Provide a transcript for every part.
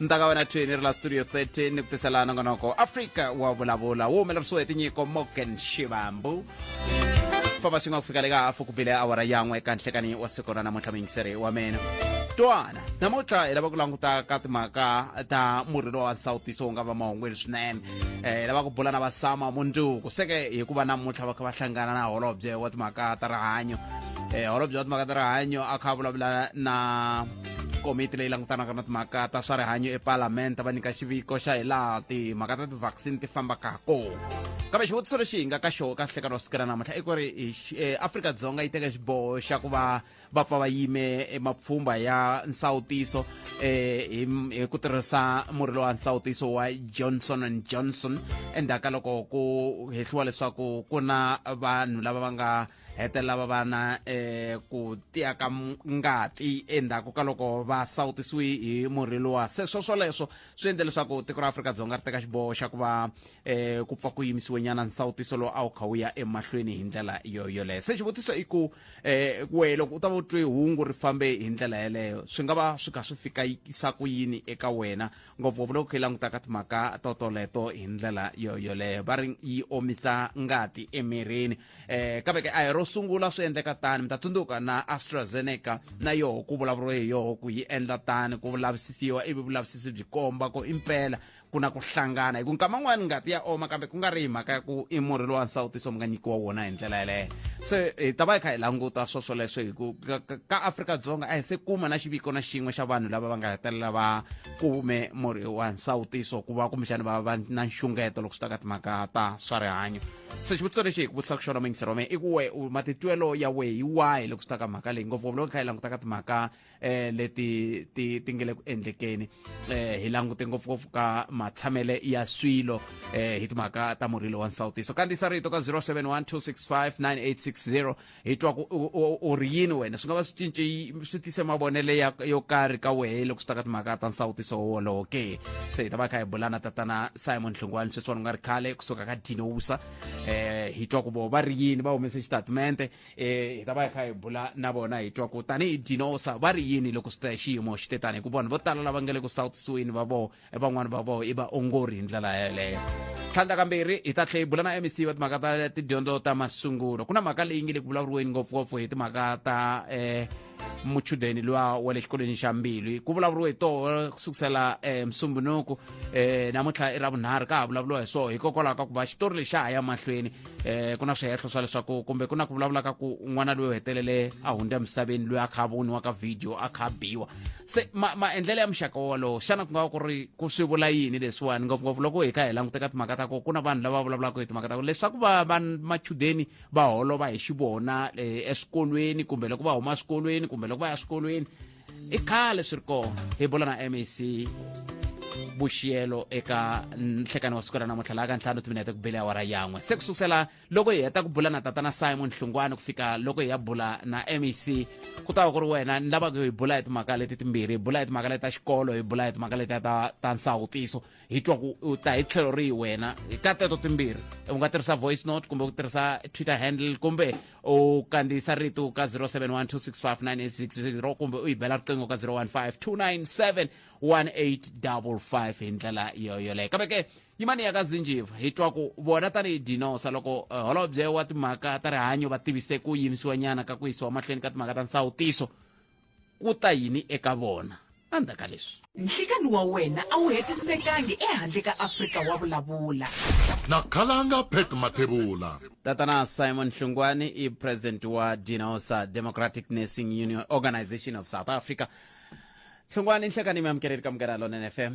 ntaka wena thweni ri la studio 13 ni ku tisela nongonoko afrika wa vulavula wu humelerisiwe hi tinyiko morgan xivambu famba swin'we ku fika le ka hafu ku bile awara yan'we eka nhlekani wa siku ra namuntlha muyingiseri wa mina twana namuntlha hi lava ku languta ka timhaka ta murhi lowa nsawutiso wu nga va mahungwini swinene eh lava ku bula na vasama munduku seke hikuva namuntlha va kha va hlangana na holobye wa timhaka ta rihanyo eh holobye wa timhaka ta rihanyo a kha a vulavula na komiti leyi langutanaka na timhaka ta swa rihanyo epalamende va nyika xiviko xa hi laha timhaka ta ti-vaccine ti fambaka ha kona kambe xivutiso lexi hi nga ka xoho ka nhlekano wa sukela namuntlha i ku ri eh, afrika-dzonga yi teka xiboho xa ku va va pfa va yime mapfhumba ya nsawutiso um hi ku tirhisa murhi lowa nsawutiso wa johnson and johnson endzhaku ka loko ku hehliwa leswaku ku na vanhu lava va nga hetelela va va na eh, ku tiya ka ngati endzhaku ka loko va sawutisiwe hi murhi lowa se swo swoleswo swi endle leswaku tiko ra afrika-dzonga ri teka xiboho xa ku va eh, ku pfa ku yimisiwe nyana nsawutiso lowu a wu kha wu ya emahlweni hi ndlela yo yoleyo se xivutiso i ku eh, we loko u ta va u twe hungu ri fambe hi ndlela yeleyo swi nga va swi kha swi fikisa ku yini eka wena ngopfungopfu loko khe langutaka timhaka totoleto hi ndlela yo yoleyo va ri yi omisa ngati emirini eh kambe ke a hi ro sungula swi endleka tani mi ta tsundzuka na astrazeneca na yoho ku vulavuriwe hi yoho ku yi endla tani ku vulavisisiwa ivi vulavisisi byi komba ku impela ku na ku hlangana hi ku nkama n'wani ngati ya oma kambe ku nga ri hi mhaka ya ku i murhi lowa nsawutiso mi nga nyikiwa wona hi ndlela yeleyo se hi ta va hi kha hi languta swo swoleswo hi ku ka- ka- ka afrika-dzonga a hi se kuma na xiviko na xin'we xa vanhu lava va nga hetelela va kume murhi wa nsawutiso ku va kumbexani va va na nxungeto loko swi ta ka timhaka ta swa rihanyo se xivutiso lexi hi ku vutisaka xona mayingiselo wa mehe i ku we matitwelo ya wehe hi wahi loko swi ta ka mhaka leyi ngopfungopfu loko hi kha hi langutaka timhaka um leti ti ti nge le ku endlekeni um hi langute ngopfungopfu ka matshamele ya swilo um hi timhaka ta murhilo wa nsawutiso kandziyisa rito ka 071 265 9860 hi twa ku u ri yini wena swi nga va swi cince swi tise mavonelo ya yo karhi ka wehe loko swi ta ka timhaka ta nsawutiso wolowo ke se hi ta va kha hi bulana tatana simon nhlungwani sweswiwani u nga ri khale kusuka ka dinousa um eh, hi twa ku vo va ri yini va humese xitatimente um eh, hi ta va hi kha hi bula na vona hi twa ku tanihi dinosa va ri yini loko swi ta xiyimo xi te tani hikuva vanhu vo tala lava nga le ku sawutisiweni va vona e van'wani va vona i vaongori hi ndlela yeleyo tlhandla kambirhi hi ta tlhe hi bula na mec va timhaka ta tidyondzo ta masungulo ku na mhaka leyi nge le ku vulavuriweni ngopfungopfu hi timhaka ta um muchudeni luwa wa le xikolweni xa mbilu ku vulavuriwe hi toho ku sukusela um eh, musumbunuku um eh, namuntlha i ra vunharhu ka ha vulavuriwa hi swona hikokwalaho ka ku va xitori lexi ha ya mahlweni um ku na swihehlo swa leswaku kumbe ku na ku vulavula ka ku n'wana loyi u hetelele a hundza emisaveni loyi a kha a voniwa ka vhidiyo a kha a biwa se maendlelo ma ya muxaka wolowo xana ku nga va ku ri ku swi vula yini leswiwani ngopfungopfu loko hi ka hi languta ka timhaka ta ko ku na vanhu lava vulavulaka hi timhaka ta ko leswaku va va machudeni va holova hi xivona eh, eswikolweni kumbe loko va huma swikolweni kumbe loko va ya swikolweni i khale swi ri kona hi bula na mac vuxiyelo eka nhlekani wa siku ra namuntlha laha ka ntlhanu timinete ku bele awara yan'we se ku sukusela loko hi heta ku bula na tatana simon hlungwana ku fika loko hi ya bula na mec ku ta va ku ri wena ni lavaka hi bula hi timhaka leti timbirhi hi bula hi timhaka leti ta xikolo hi bula hi timhaka leti ta ta nsawutiso hi twa ku u ta hi tlhelo rihi wena ka teto timbirhi u nga tirhisa voice note kumbe ku tirhisa twitter handle kumbe u kandziyisa rito ka 0712659860 kumbe u yi bela riqingho ka 0152971855 hi ndlela yoyoleyo kambe ke yimani ya ka zinjiva hi twa ku vona tanihi dinosa loko eh, holobye wa timhaka ta rihanyo va tivise ku yimisiwa nyana ka ku yisiwa mahlweni ka timhaka ta nsawutiso ku ta yini eka vona andza ka leswi nhlikani wa wena a wu hetisekangi ehandle ka afrika wa vulavula na khalanga pet mathebula tatana simon hlungwani i president wa dinosa democratic nursing union organization of south africa hlungwani nhlekani mi amukeleli ka munghana lonene fm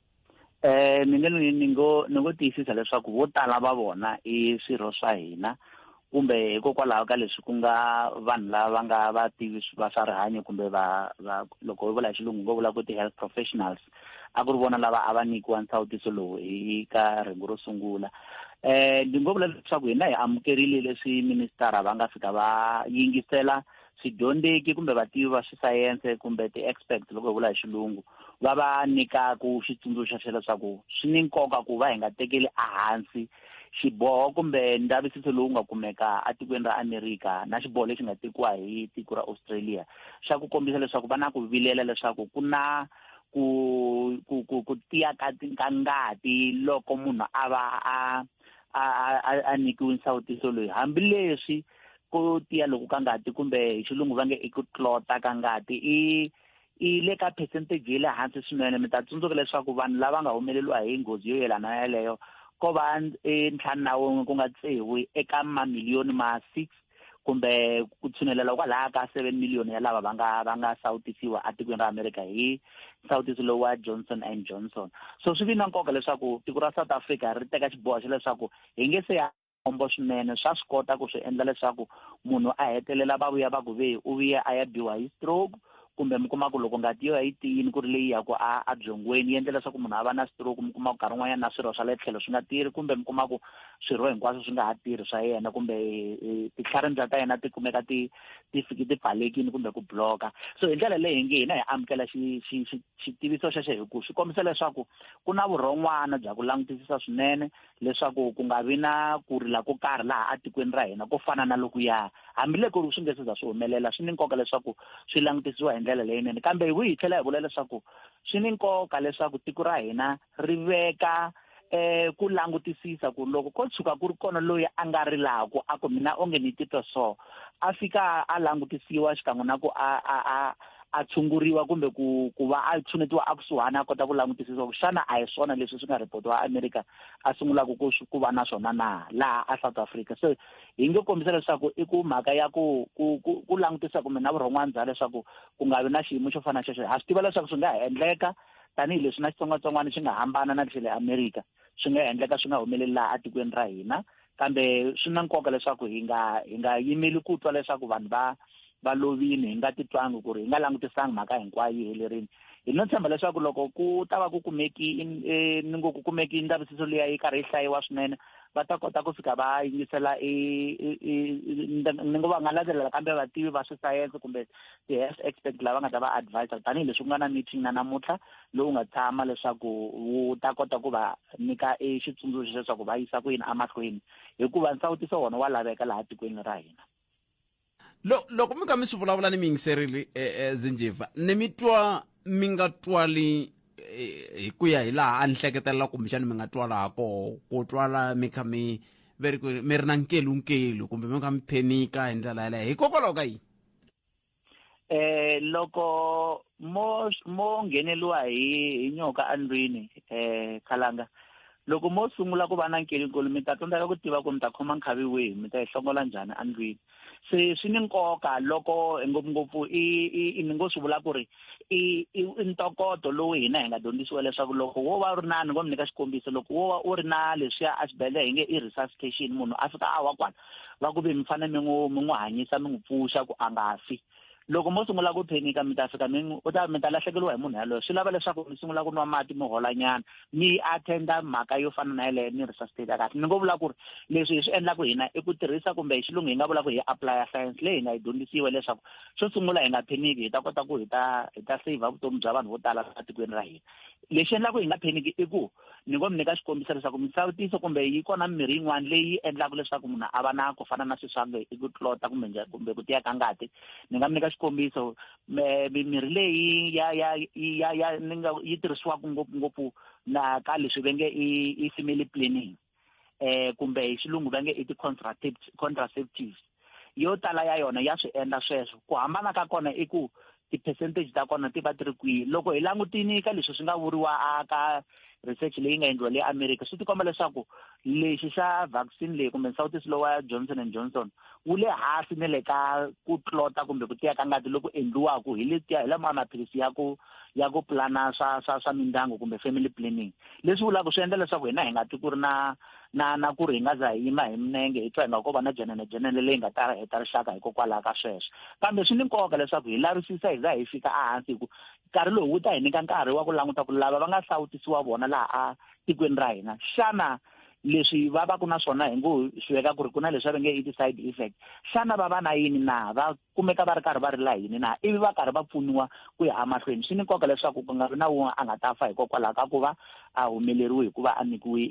Eh ni nge ni ngo ni ngo tiyisisa leswaku vo tala va vona i swirho swa hina kumbe hikokwalaho ka leswi ku nga vanhu lava nga vativi va swa rihanyo kumbe va va loko hi vula hi xilungu ngo vula ku ti-health professionals a ku ri vona lava a va nyikiwa nsawutiso lowu hi ka rhengu ro sungula um ni ngo vula leswaku hina hi amukerile leswi ministara va nga fika va yingisela swidyondzeki kumbe vativi va swisayense kumbe ti-expert loko hi vula hi xilungu va va nyikaka xitsundzuxo xa leswaku swi ni nkoka ku va hi nga tekeli ehansi xiboho kumbe ndavisiso lowu nga kumeka etikweni ra amerika na xiboho lexi nga tekiwa hi tiko ra australia xa ku kombisa leswaku va na ku vilela leswaku ku na ku ku ku ku tiya ka ka ngati loko munhu a va a a a nyikiwe nsawutiso loyi hambileswi ku tiya loku ka ngati kumbe hi xilungu va nge i ku tlota ka ngati i i le ka percentage yi le hansi swinene mi ta tsundzuka leswaku vanhu lava nga humeleliwa hi nghozi yo yelana na yeleyo ko va e, ntlhanu na wun'we ku nga tsewi eka mamiliyoni ma six kumbe ku tshunelela kwalaha ka seven million ya lava va nga va nga sawutisiwa etikweni ra america hi nsawutiso lowu wa johnson and johnson so swi vi na nkoka leswaku tiko ra south africa ri teka xiboho xa leswaku hi nge se ya khombo swinene swa swi kota ku swi endla leswaku munhu a hetelela va vuya va ku ve u vuye a ya biwa hi stroke kumbe mi kuma ku loko ngati yo ya yi tiyini ku ri leyi ya ku a a byongweni yi endla leswaku munhu a va na stroke mi kuma ku nkarhi un'wanyana na swirho swa le tlhelo swi nga tirhi kumbe mi kuma ku swirho hinkwaswo swi nga ha tirhi swa yena kumbe eh, eh, titlharindza ta yena ti kumeka ti ti fiki ti pfalekini kumbe ku bloka so hi ndlela leyi nge hina hi amukela xitiviso xexo hi ku swi kombisa leswaku ku na vurhon'wana bya ku langutisisa swinene leswaku ku nga vi na ku rila ko karhi laha etikweni ra hina ko fana na lokuya hambiloko ri swi nge se za swi humelela swi ni nkoka leswaku swi langutisiwa hi ndlela leyinene kambe hi hi tlhela hi vula leswaku swi ni nkoka leswaku tiko ra hina ri veka eh ku langutisisa ku loko ko tshuka ku ri kona loyi a nga rilaku a ku mina onge ni titwa so a fika a langutisiwa xikan'we na ku a a a a tshunguriwa kumbe ku ku va a tshunetiwa a kusuhani a kota ku langutisisa ku xana a hi swona leswi swi nga ripotiwa america a sungulaka ku ku va na swona na laha a south africa so hi nge kombisa leswaku i ku mhaka ya ku ku ku langutisa kumbe na vurhon'wana bya leswaku ku nga vi na xiyimo xo fana na xexo ha swi tiva leswaku swi nga ha endleka tanihileswi na xitsongwatsongwana xi nga hambana na lexi le america swi nga endleka swi nga humeleli laha etikweni ra hina kambe swi na nkoka leswaku hi nga hi nga yimeli ku twa leswaku vanhu va va lovini hi nga titwangi ku ri hi nga langutisangi mhaka hinkwayo yi helerile hi no tshemba leswaku loko ku ta va ku kumeki e, ni ngo ku kumeki ndzavisiso liya yi karhi yi hlayiwa swinene va ta kota ku fika va yingisela ni ngo va nga landzelela kambe vativi va swisayense kumbe ti-health expert lava nga ta va advisor tanihileswi ku nga na meeting na namuntlha lowu nga tshama leswaku wu ta kota ku va nyika e xitsundzuxo leswaku va yisa ku yini emahlweni hikuva nsawutiso wona wa laveka laha tikweni ra hina loko mi kha mi swi vulavula ni mi yingiserile um eh, eh, zinjiva ni mi twa mi nga twali eh, hi ku ya hi laha a ni hleketelela kumbexani mi nga twala ha koho ku twala mi kha mi mi ri na nkelunkelu kumbe mi kha mi phenika hi ndlela yaleyo hikokwalaho ka yini eh loko mo mo ngheneliwa hi hi nyoka andlwini eh khalanga loko mo sungula ku va na nkelinkulu mi ta tsandzeka ku tiva ku mi ta khoma nkhavi wihi mi ta yi hlongola njhani andlwini se swi ni nkoka loko ngopfungopfu i i ni ngo swi vula ku ri i i ntokoto lowu hina hi nga dyondzisiwa leswaku loko wo va u ri na ni ngo mi nyika xikombiso loko wo va u ri na leswiya a xibedhlele hi nge i resuscitation munhu a fika a wa kwala va ku ve mi fanele mi n'wi mi n'wi hanyisa mi n'wi pfuxa ku a nga fi loko mo sungula ku phenika mi ta fika mi u ta mi ta lahlekeriwa hi munhu yaloyo swi lava leswaku mi sungula ku nwa mati mi holanyana mi attenda mhaka yo fana na yeleyo ni resuscitate kahle ni ngo vula ku ri leswi hi swi endlaku hina i ku tirhisa kumbe hi xilungu hi nga vula ku hi applya science leyi hi nga yi dyondzisiwe leswaku xo sungula hi nga pheniki hi ta kota ku hi ta hi ta saver vutomi bya vanhu vo tala etikweni ra hina lexi endlaku hi nga pheniki i ku ni ngo mi nyika xikombiso leswaku misawutiso kumbe yi kona mimirhi yin'wana leyi endlaka leswaku munhu a va na ku fana na swiswange i ku tlota kumbe kumbe ku tiya ka ngati ni nga mi nyika xikombiso mimirhi leyi ya ya ya ya ni nga yi tirhisiwaka ngopfungopfu na ka leswi ve nge i i family planning eh kumbe hi xilungu va nge i ti-contraceptives yo tala ya yona ya swi endla sweswo ku hambana ka kona i ku ti-percentage ta kona ti va ti ri kwihi loko hi langutini ka leswi swi nga vuriwa a ka research leyi nga endliwa le america swi tikomba leswaku lexi xa vaccine leyi kumbe nsawutiso lowa johnson and johnson wu le hansi ni le ka ku tlota kumbe ku tiya ka ngati loku endliwaka hi letiya hi lama maphilisi ya ku ya ku pulana swa swa swa mindyangu kumbe family planning leswi vulaka swi endla leswaku hina hi nga twi ku ri na na na ku ri hi nga za hi yima hi minenge hi twa hi nga ko va na jenene jenene leyi nga ta heta rixaka hikokwalaho ka sweswo kambe swi ni nkoka leswaku hi lavisisa hi za hi fika ehansi hi ku nkarhi lowu wu ta hi nyika nkarhi wa ku languta ku lava va nga hlawutisiwa vona laha a tikweni ra hina xana leswi va va ku na swona hi ngo swi veka ku ri ku na leswi va nge i ti-side effect xana va va na yini na va kumeka va ri karhi va ri la yini na ivi va karhi va pfuniwa ku ya emahlweni swi ni nkoka leswaku ku nga vi na wun'we a nga ta fa hikokwalaho ka ku va a humeleriwe hi ku va a nyikiwe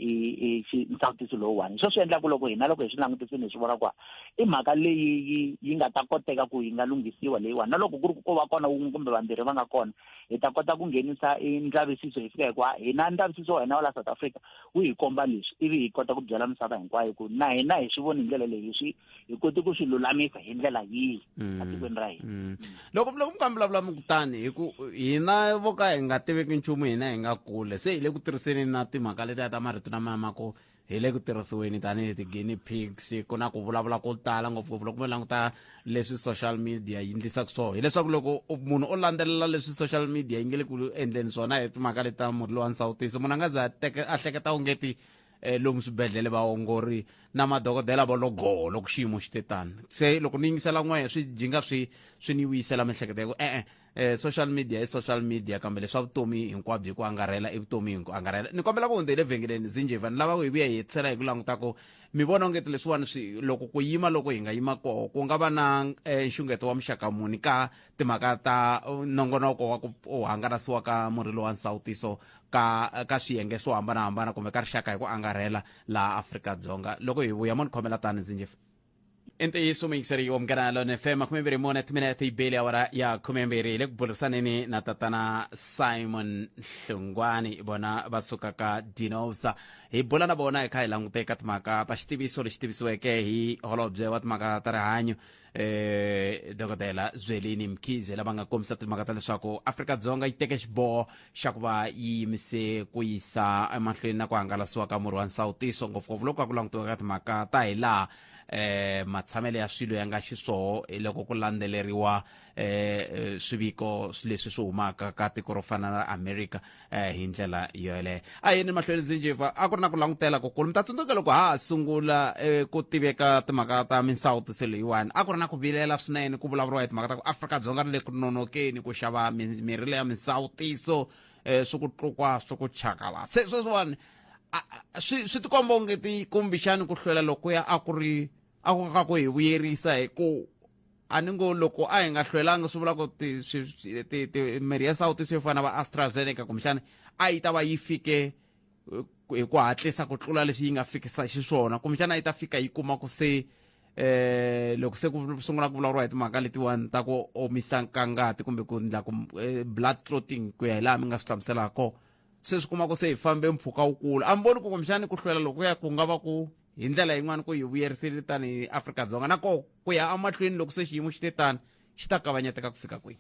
nsawutiso lowuwani hi swo swi endlaku loko hina loko hi swi langutisini hi swi vona ku i mhaka leyi yi nga ta koteka ku yi nga lunghisiwa leyiwani na loko ku ri ku va kona wun'we kumbe vambirhi va nga kona hi ta kota ku nghenisa ndzavisiso hi fika hikuva hina ndzavisiso wa hina wa la south africa wu hi komba leswi ivi hi kota ku byela misava hinkwayo ku na hina hi swi voni hi ndlela leyi hi swi hi koti ku swi lulamisa hi ndlela yihi mm. etikweni ra hina mm. loko loko mi kambilavula mi kutani hi ku hina vo ka hi nga tiveki nchumu hina hi nga kule se hi le ku tirhiseni na timhaka letiya ta marito lama ya mako hi le ku tirhisiweni tanihi ti-guinea pigs ku na ku vulavula ko tala ngopfungopfu loko mi languta leswi social media yi ndlisaka swona hileswaku loko munhu o landzelela leswi social media yi nge le ku endleni swona hi timhaka leti ta murhi lowa nsawutiso munhu a nga za a hleketa ungeti eh, lomu swibedhlele vaongori na madokodela va logoho loko xiyimo xi te tani se loko ni yingisela n'wehe swi jinga swi swi ni vuyisela miehleketo ya ku e-e eh, social media i social media kambe leswa vutomi hinkwabyo ku angarhela i vutomi hi ku angarhela ni kombela ku hundzele vhengeleni zinjeva ni lava ku hi vuya hi hetisela hi ku languta ku mi vona ongeti leswiwani swi loko ku yima loko hi nga yima koho ku nga va na eh, nxungeto wa muxaka muni ka timhaka ta uh, nongonoko wa ku u hangalasiwa ka murhi lowa nsawutiso ka ka swiyenge swo hambanahambana kumbe ka rixaka hi ku angarhela laha afrika-dzonga loko hi vuya mo ni khomela tani ndzi njefa i ntiyiso muyingiseri wa munghana lone fm khume mbirhi mune timinete yibeli awara ya khume mbirhi le ku burisaneni na tatana simon hlungwani vona va sukaka dinosa hi bula na vona hi kha hi langute ka timhaka ta xitiviso lexi tivisiweke hi holobye wa timhaka ta rihanyo eh dokodela zwelini mkhize lava nga kombisa timhaka ta leswaku afrika-dzonga yi teke xiboho xa ku va yi yimise ku yisa emahlweni na ku hangalasiwa ka murhi wa nsawutiso ngopfungopfu loko a ku langutiwa ka timhaka ta hi laha eh, matshamelo ya swilo ya nga xiswoho hi loko ku landzeleriwa eh, eh, swiviko leswi swi humaka ka tiko ro fana na america eh, hi ndlela yoyeleyo a yini mahlweni ndzi njeva a ku ri na ku langutela kukulu mi ta tsundzuka loko ha ha sungula eh, ku tiveka timhaka ta minsawutiso leyiwani a ku ri na ku vilela swinene ku vulavuriwa hi timhaka ta ku afrika-dzonga ri le ku nonokeni ku xava mi- mirhi leya minsawutiso eh, swi ku tlukwa swi ku chakala se sweswiwani a- a- swi swi tikomba onge ti kumbixani ku hlwela lokuya a ku ri a ku ka ku hi vuyerisa hi ku a ni ngo loko a hi nga hlwelanga swi vula ku mirhi ya sawutisi yo fana va astrazeneca kumbexana a yi ta va yi fike hi ku hatlisa ku tlula leswi yi nga fikisa xiswona kumbexana yi ta fika yi kuma ku se eh loko se ku sungula ku vulavuriwa hi timhaka letiwani ta ku omisa nkangati kumbe ku ndla ku eh, blood clotting ku ya hi laha mi nga swi hlamuselaka se swi kuma ku se hi fambe mpfhuka wukulu a mi voni ku kumbexani ku hlwela lokuya ku nga va ku hi ndlela yin'wana ku hi vuyerisile tanihi afrika-dzonga na ko ku ya amahlweni loko se xiyimo xi te tani xi ta kavanyeteka ku fika kwihi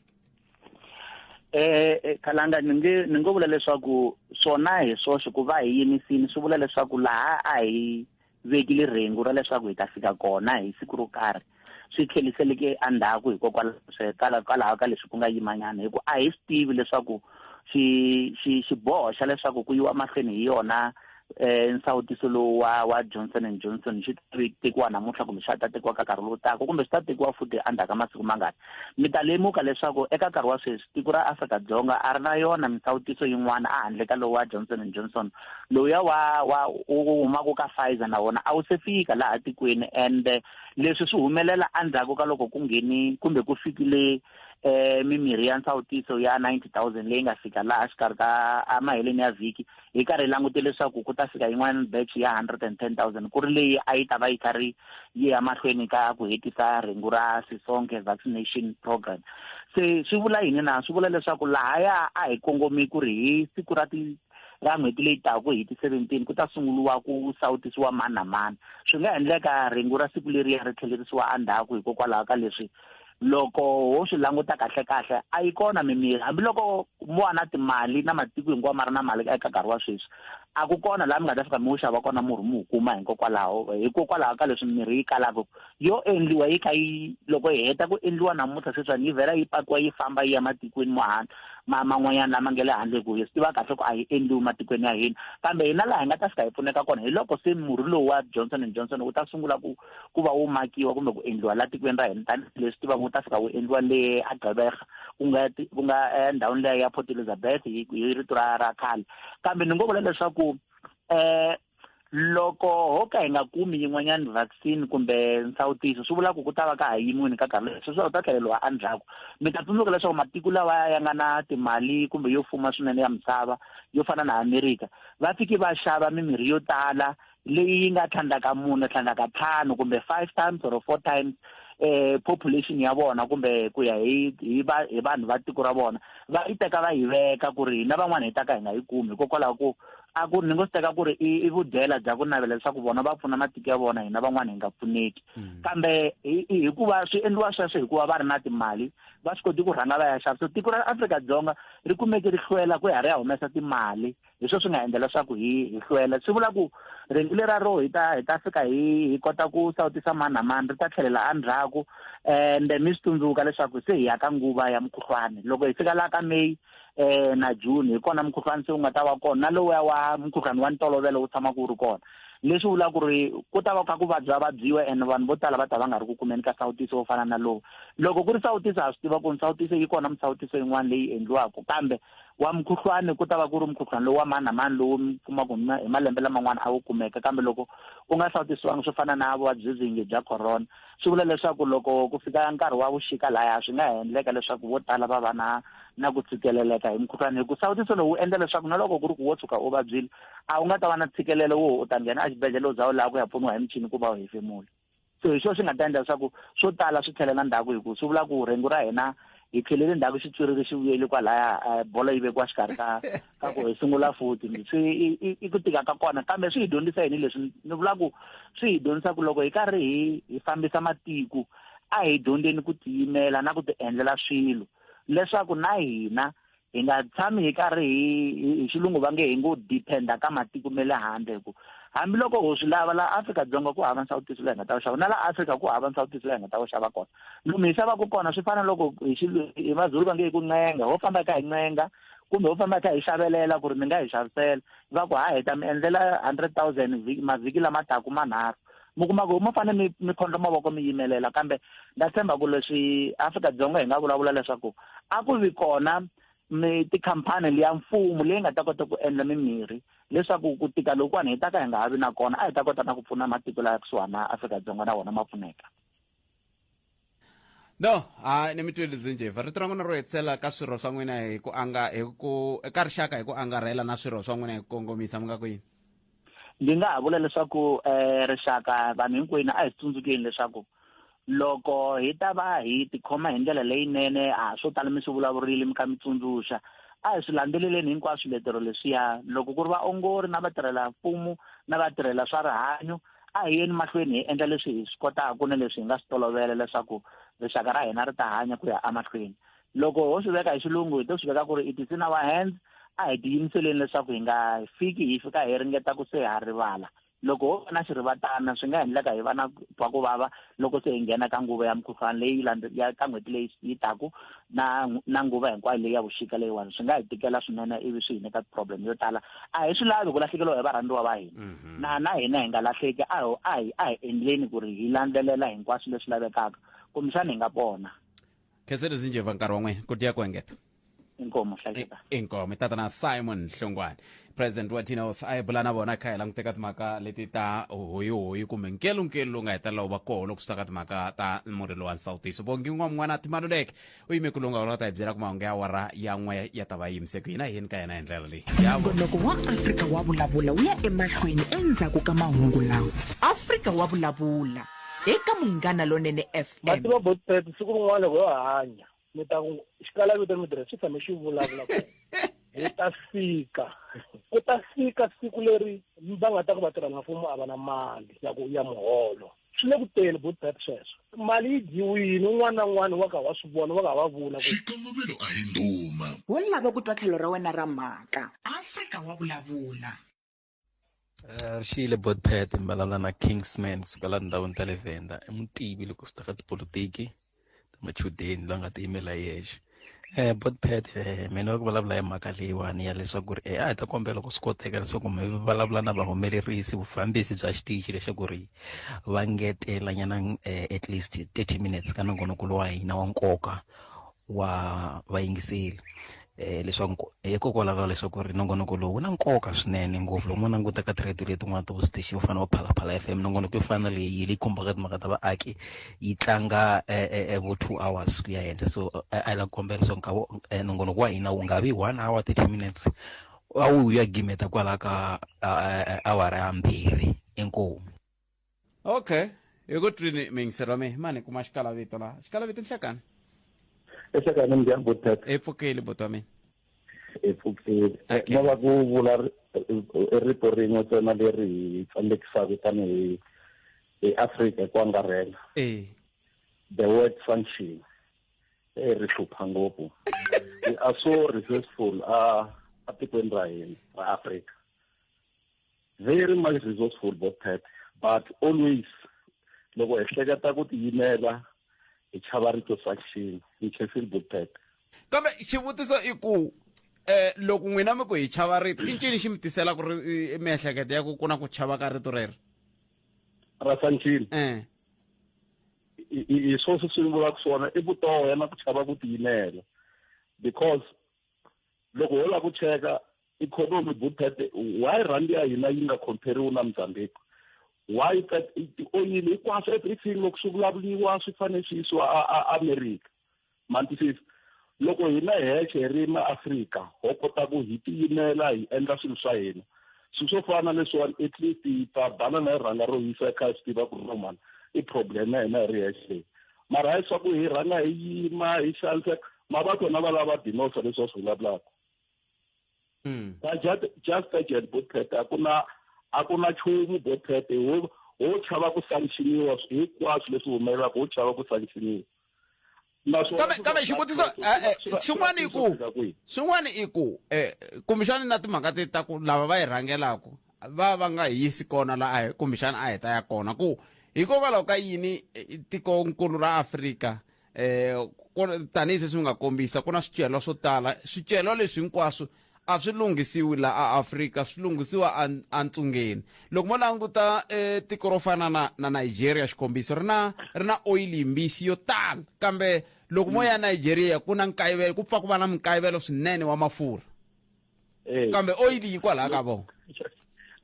eh, eh kalanga ni nge ni ngo vula leswaku swona hi swoxe ku va hi yimisini swi vula leswaku laha a hi vekile rhengu ra leswaku hi ta fika kona hi siku ro karhi swi tlheliseleke endzhaku hikokwalaho hikwalaho ka leswi ku nga yimanyana hi ku a hi swi tivi leswaku xiboho xa leswaku ku yiwa mahlweni hi yona eh nsawutiso lowu wa wa Johnson and Johnson xi tekiwa namuntlha kumbe xa ta tekiwa ka nkarhi lowu taka kumbe swi ta tekiwa futhi endzhaku ka masiku mangani mi ta lemuka leswaku eka nkarhi wa sweswi tiko ra Afrika-Dzonga a ri na yona misawutiso yin'wana a handle ka lowu wa Johnson and Johnson lowuya wa wa wu humaka ka Pfizer na wona a wu se fika laha tikweni ende leswi swi humelela endzhaku ka loko ku ngheni kumbe ku fikile eh mimirhi ya nsawutiso ya 90000 leyi nga fika laha xikarhi ka emaheleni ya vhiki hi karhi hi langute leswaku ku ta fika yin'wana batch ya 110000 ku ri leyi a yi ta va yi karhi yi ya mahlweni ka ku hetisa rhengu ra sisonke vaccination program se swi vula yini na swi vula leswaku lahaya a hi kongome ku ri hi siku ra ti ra n'hweti leyi taku hi ti-seventeen ku ta sunguriwa ku sawutisiwa mani na mani swi nga endleka rhengu ra siku leriya ri tlhelerisiwa endzhaku hikokwalaho ka leswi loko ho swi languta kahle kahle a yi kona mimiri hambiloko mo va na timali na matiko hinkwawo ma ri na mali eka nkarhi wa sweswi a ku kona laha mi nga ta fika mi wu xava kona murhi mi wu kuma hikokwalaho hikokwalaho ka leswi mirhi yi kalaka yo endliwa yi kha yi loko hi heta ku endliwa namuntlha sweswiwani yi vhela yi pakiwa yi famba yi ya matikweni mohan ma man'wanyana lama nge le handle hi ku hi swi tiva kahle ku a yi endliwi matikweni ya hina kambe hina laha hi nga ta fika hi pfuneka kona hi loko se murhi lowu wa johnson and johnson wu ta sungula ku ku va wu makiwa kumbe ku endliwa la tikweni ra hina tanihileswi tivaka wu ta fika wu endliwa le agqebega ku nga ku nga endhawini leya ya port elizabeth hi rito ra ra khale kambe ni ngo vula leswaku um loko ho ka hi nga kumi yin'wanyana vaccine kumbe nsawutiso swi vula ku ku ta va ka ha yimiwini ka karhi leswi swi ta tlheleriwa endzhaku mi ta tsundzuka leswaku matiko lawa ya nga na timali kumbe yo fuma swinene ya misava yo fana na amerika va fiki va xava mimirhi yo tala leyi yi nga tlhandlaka mune tlhandlaka ntlhanu kumbe five times or four times eh population ya vona kumbe ku ya hi hi va hi vanhu va tiko ra vona va yi teka va yi veka ku ri hina van'wana hi ta ka hi nga yi kumi hikokwalaho ku a ku ri ni ngo swi teka ku ri i vudyela bya ku navela leswaku vona va pfuna matiko ya vona hina van'wana hi nga pfuneki mm. kambe hikuva swi endliwa sweswo hikuva va ri na timali va swi koti ku rhanga va ya xava so tiko ra afrika dzonga ri kumeke ri hlwela ku ya ri ya humesa timali hi sweswo swi nga endla leswaku hi hi hlwela swi vula ku rhengu lera ro hi ta hi ta fika hi hi kota ku sawutisa mani na mani ri ta tlhelela endzhaku ende mi swi tsundzuka leswaku se hi ya ka nguva ya mukhuhlwani loko hi fika laha ka meyi eh na June hi kona mukhuhlwani se wu nga ta va kona na lowuya wa mukhuhlwani wa ntolovelo wu tshama ku ri kona leswi vula ku ri ku ta va kha ku vabya vabyiwa and vanhu vo tala va ta va nga ri ku kumeni ka sawutiso wo fana na lowu loko ku ri sawutiso ha swi tiva ku ri sawutiso yi kona misawutiso yin'wana leyi endliwaka kambe wa mukhuhlwani ku ta va ku ri mukhuhlwani lowu wa mani na mani lowu mi kumaka hi malembe laman'wana a wu kumeka kambe loko u nga sawutisiwangi swo fana na vuvabyi byingi bya corona swi vula leswaku loko ku fika nkarhi wa vuxika laya swi nga ha endleka leswaku vo tala va va na na ku tshikeleleka hi mukhuhlwana hi ku sawutiso lowu endla leswaku na loko ku ri ku wo tshuka u vabyile a wu nga ta va na tshikelelo wo u ta nghena exibedhlele u za u laha ku ya pfuniwa hi michini ku va u hefemula so hi swona swi nga ta endla leswaku swo tala swi tlhelela ndzhaku hi ku swi vula ku rhengu ra hina hi tlhelele ndzhaku xitswiriri xi vuyele kwalaya eh, bolo yi vekiwa xikarhi ka ka ku hi sungula futhi swi i ku tika ka kona kambe swi hi dyondzisa yini leswi ni vula ku swi hi dyondzisa ku loko hi karhi hi hi fambisa matiko a hi dyondzeni ku tiyimela na ku ti endlela swilo leswaku na hina hi nga tshami hi karhi hi hi xilungu va nge hi ngo dependa ka matiko me le handle hi ku hambiloko ho swi lava laha afrika-dzonga ku hava nsawutiso leyi nga ta wu xava na laha afrika ku hava nsawutiso leyi nga ta wu xava kona lomu hi xavaka kona swi fana loko hi xi hi mazulu va nge hi ku ncenga ho famba ka hi ncenga kumbe ho famba hi kha hi xavelela ku ri mi nga hi xavisela va ku ha heta mi endlela hundred thousand mavhiki lama taku manharhu mi kuma ku mo fanele mi mi khondla mavoko mi yimelela kambe nda tshemba ku leswi afrika dzonga hi nga vulavula leswaku a ku vi kona mi tikhampani leya mfumo leyi nga ta kota ku endla mimirhi leswaku ku tika lokuwani hi ta ka hi nga ha vi na kona a hi ta kota na ku pfuna matiko laya kusuhana afrika dzonga na wona ma pfuneka no ha ni mi twile zinjeva rito ra n'wina ro hetisela ka swirho swa n'wina hi ku anga hi ku ka rixaka hi ku angarhela na swirho swa n'wina hi ku kongomisa mi nga ku yini ndzi nga ha vula leswaku um rixaka vanhu hinkwenu a hi tsundzukeni leswaku loko hi ta va hi tikhoma hi ndlela leyinene a swo tala mi swi vulavurile mi kha mi tsundzuxa a hi swi landzeleleni hinkwaswo letero leswiya loko ku ri vaongori na vatirhela mfumo na vatirhela swa rihanyo a hi yeni mahlweni hi endla leswi hi swi kotaka ni leswi hi nga swi tolovela leswaku rixaka ra hina ri ta hanya ku ya emahlweni loko ho swi veka hi xilungu hi to swi veka ku ri it is in our hands a hi tiyimiseleni leswaku hi nga fiki hi fika hi ringeta ku se ha rivala loko ho va na xirivatana swi nga endleka hi va na twa ku vava loko se hi nghena ka nguva ya mukhuhlwana leyi ya ka n'hweti leyi yi taku na na nguva hinkwayo leyi ya vuxika leyiwani swi nga hi tikela swinene ivi swi hi nyika problem yo tala a hi swi lavi ku lahlekeriwa hi varhandziwa va hina mhm. na na hina hi nga lahleki a a hi a hi endleni ku ri hi landzelela hinkwaswo leswi lavekaka kumbexana hi nga pona khenselo zinjeva nkarhi wa n'wina ku tiya ku engeta inkomo hlaleka inkomo i tatana simon hlongwane president wa tinos a yi bula na vona kha hi languteka timhaka leti ta hoyihoyi kumbe nkelunkelu lowu nga hetelela wu va koho loko swi ta ka timhaka ta murhi wa nsawutiso vongi n'wa n'wana timaluleke u yime ku lunga ula ta hi byela ku mahungu ya wara ya n'we ya ta va yimise ku hina hi yini ka yena hi ndlela leyi nongonoko wa afrika wa vulavula wu ya emahlweni endzhaku ka mahungu lawa afrika wa vulavula eka Munghana Lonene FM. Ma tiva bot pep siku rin'wana loko yo hanya mi ta ku xikalavito mi tirha xi tshame xi vulavula ku hi ta fika ku ta fika siku leri va nga ta ku vatirhela mfumo a va na mali ya ku ya muholo swi le ku teni bot pep sweswo mali yi dyiwini un'wana na un'wana wa ka wa swi vona wa ka wa vula ku xikongomelo a hi nduma wo lava ku twa tlhelo ra wena ra mhaka afrika wa vulavula Eh, ri xiyile botpet mbalala na kingsman kusukela tindhawini ta le venda i mutivi loko swi ta ka tipolotiki ta machudeni loyi a nga tiyimela yexe um eh, botpet um eh, mina ku vulavula hi mhaka leyiwani ya leswaku ri a hi ta kombela ku swi koteka leswaku mi vulavula na vahumelerisi vufambisi bya xitichi leswaku ri va ngetelanyana um at least thirty minutes ka nongonoko lowa hina wa nkoka wa vayingiseli eh leswaku hikokwalaho leswaku ri nongonoko lowu wu na nkoka swinene ngopfu loko mo languta ka ti-radio letin'wana ta vustation yo fana va phalaphala f m nongonoko yo fana leyi leyi khumbaka timhaka ta vaaki yi tlanga eh, eh, eh, vo two hours ku ya henhla so a la kombela leswaku nkavo nongonoko wa hina wu nga vi one hour thirty minutes a wu ya gimeta kwalaho ka awara ya mbirhi inkomu okay ekutwini mingiselo mi mani kuma xikalavito la xikalavito nhlakani ehlekani mi njhani botata i pfukeli botwa mina i pfukeli Okay. no va ku vula ri- i rito rin'we tsena leri hi tsandzekisaka tanihi hi afrika hi ku angarhela e the word function e ri hlupha ngopfu we are so resourceful a a tikweni ra hina ra afrika very much resourceful both pet but always loko hi hleketa ku tiyimela hi chava rito faction hi chefil both pet kambe xivutiso i ku eh loko n'wina mi ku hi chava rito i ncini xi mi tisela ku ri miehleketo ya ku ku na ku chava ka rito rero rasancini eh hi swo swi swi vulaka swona i vutoho ya na ku chava ku tiyimela because loko ho lava ku cheka ikhonomi bupete why rhandi ya hina yi nga compare-iwi na mozambique why tioyili hinkwaswo everything loko swi vulavuriwa swi fanele swi yisiwa america mantisisi loko hina hexe hi ri maafrika ho kota ku hi tiyimela hi endla swilo swa hina swilo swo fana na leswiwani at least hi ta banana hi rhanga ro yisa kha hi swi tiva ku ri nomani i problem ya hina hi ri hexe leyi mara hi swaku hi rhanga hi yima hi xaniseka mavakho na va lava dinosa leswi va swi vulavulaka hmm. ka just agent botpet a ku na a ku na chumu botpet ho ho chava ku sanctioniwa hinkwaswo leswi humelelaka ho chava ku sanctioniwa kambe kambe xivutiso eh, eh, xin'wana i ku xin'wana i ku um kumbexani na timhaka ti ta ku lava va yi rhangelaku va va nga hi yisi kona laha kumbexana a hi ta ya kona ku hikokwalaho ka yini eh, tikonkulu ra afrika um tanihi sweswi mi nga kombisa ku na swicelwa swo tala swicelwa leswi hinkwaswo a swi lunghisiwi la a afrika swi lunghisiwa antsungeni loko mo languta eh, tiko ro fana na na nigeria xikombiso ri na ri na oyili yimbisi yo tala kambe loko mo ya nigeria ku na nkayivelo ku pfa ku va na minkayivelo swinene wa mafurha eh. kambe oil yi kwalaha ka vona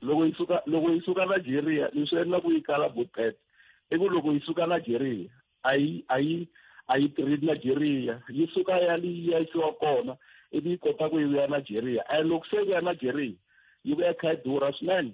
loko yi suka loko yi suka nigeria leswi endlaku yi kala bupet i ku loko yi suka nigeria a yi a yi a yi tirhi nigeria yi suka ya li yi yisiwa kona ivi yi kota ku yi vuya nigeria and loko se yi vuya nigeria yi vuya kha yi durha swinene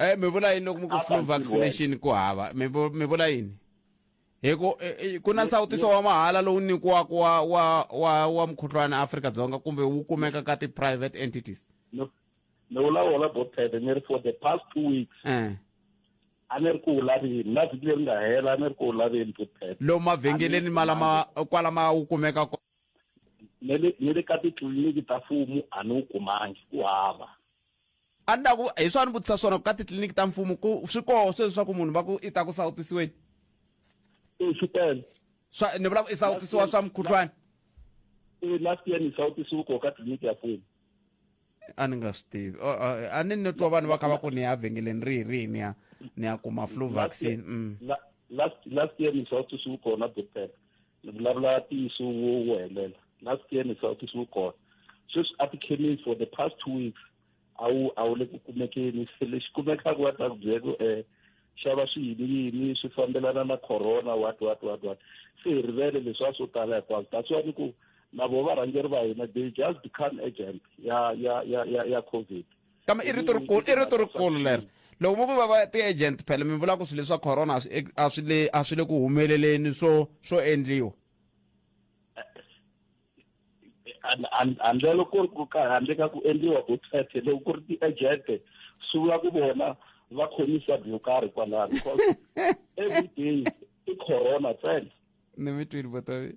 Eh mi vula yini loko mi ku flu vaccination ku hava mi mi vula yini? Hi ku eh, eh, ku na nsawutiso wa mahala lowu nyikiwaka wa wa wa wa mukhuhlwana Afrika Dzonga kumbe wu kumeka ka ti private entities. No. Ni vula wona bothete ni ri for the past two weeks. Eh. a ni ri ku wu laveni na vhiki leri nga hela a ni ri ku wu laveni bothete. Lomu mavhengeleni malama kwalama wu kumeka kona. ni le ka titliliniki ta mfumo a ni wu kumangi ku hava a ni ta ku hi swa ni vutisa swona ku ka titliliniki ta mfumo ku swi koho sweswi swa ku munhu va ku i ta ku sawutisiweni e swi tele swa ni vula ku i sawutisiwa swa mukhuhlwani e last year ni sawutisiwe koho ka tliliniki ya mfumo a ni nga swi tivi a ni ni twa vanhu va kha va ku ni ya vhengeleni rihi rihi ni ya ni ya kuma flu vaccine mm. last last year ni sawutisiwe kona doctor ni vulavula ntiyiso wo wo helela last year ni sawutisi wu kona sweswi a tikhemisi for the past two weeks a wu a wu le ku kumekeni se lexi kumekaka wa ta ku byela ku um xava swiyiniyini swi fambelana na corona what what what what se hi rivele leswi a swo tala hinkwaswo that's why ni ku na vo varhangeri va hina they just become agent ya ya ya ya ya covid kama i rito rikulu i rito rikulu leri loko mi ku va va ti-agent phela mi vula ku swilo leswa corona a swi le a swi le ku humeleleni swo swo endliwa handlelo ku ri ku ka handle ka ku endliwa ku thethe loko ku ri ti-agent swi vula ku vona va khomisa byo karhi kwalaho because every day i corona tsena ni mi twile botavi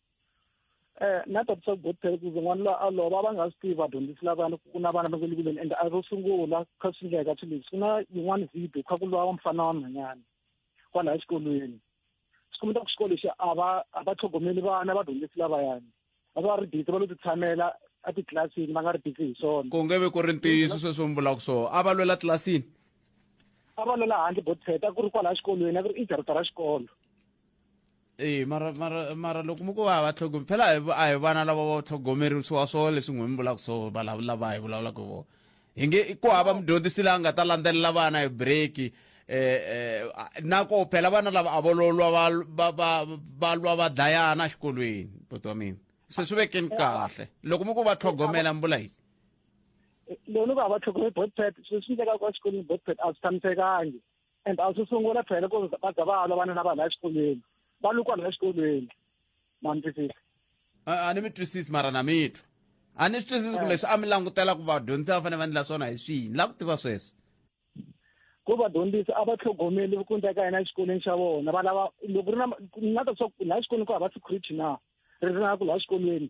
eh na ta tsaka go tell ku n'wana la a lova va nga swi tivi vadyondzisi lavana ku na vana va nga le kuleni and a ro sungula kha swi ndleka swi leswi ku na yin'wana video kha ku lwa wa mfana wa mhanyana kwala exikolweni swi kumeta ku xikolo lexi a va a va tlhogomeli vana vadyondzisi lavayani a va ri busy va lo titshamela a titlilasini va nga ri busy hi swona ku nge vi ku ri ntiyiso sweswo mi vulaka swona a va lwela tlilasini a va lwela handle botset a ku ri kwala exikolweni a ku ri ijarita ra xikolo ee mara mara mara loko mi ku va va tlhogome phela a hi vana lava va tlhogomerisiwa swo leswi n'wi mi vulaka swo vulavula va hi vulavulaka vo hi nge ku hava mudyondzisi la nga ta landzelela vana hi breaki eh, eh, na ko phela vana lava a vololwa va lwa va dlayana exikolweni buti wa mina se swi vekeni kahle loko mi ku va tlhogomela mi vula yini loko va va tlhogomela botpet swi swi ndleka kwa xikolweni botpet a swi tshamisekangi and a swi sungula phela ku va za va alovana na vanhu la xikolweni va lukwa la xikolweni ma ni twisisa a ni mi twisisi mara na mitwa a ni swi twisisi ku eh. leswi a mi langutela ku vadyondzisi va fanele va endla swona hi swihi ni la ku tiva sweswo ku vadyondzisi a va tlhogomeli ku endleka yena exikolweni xa vona va lava loko ri na ni nga ta swa ku laha xikolweni ku hava security na ri ri na ku laha xikolweni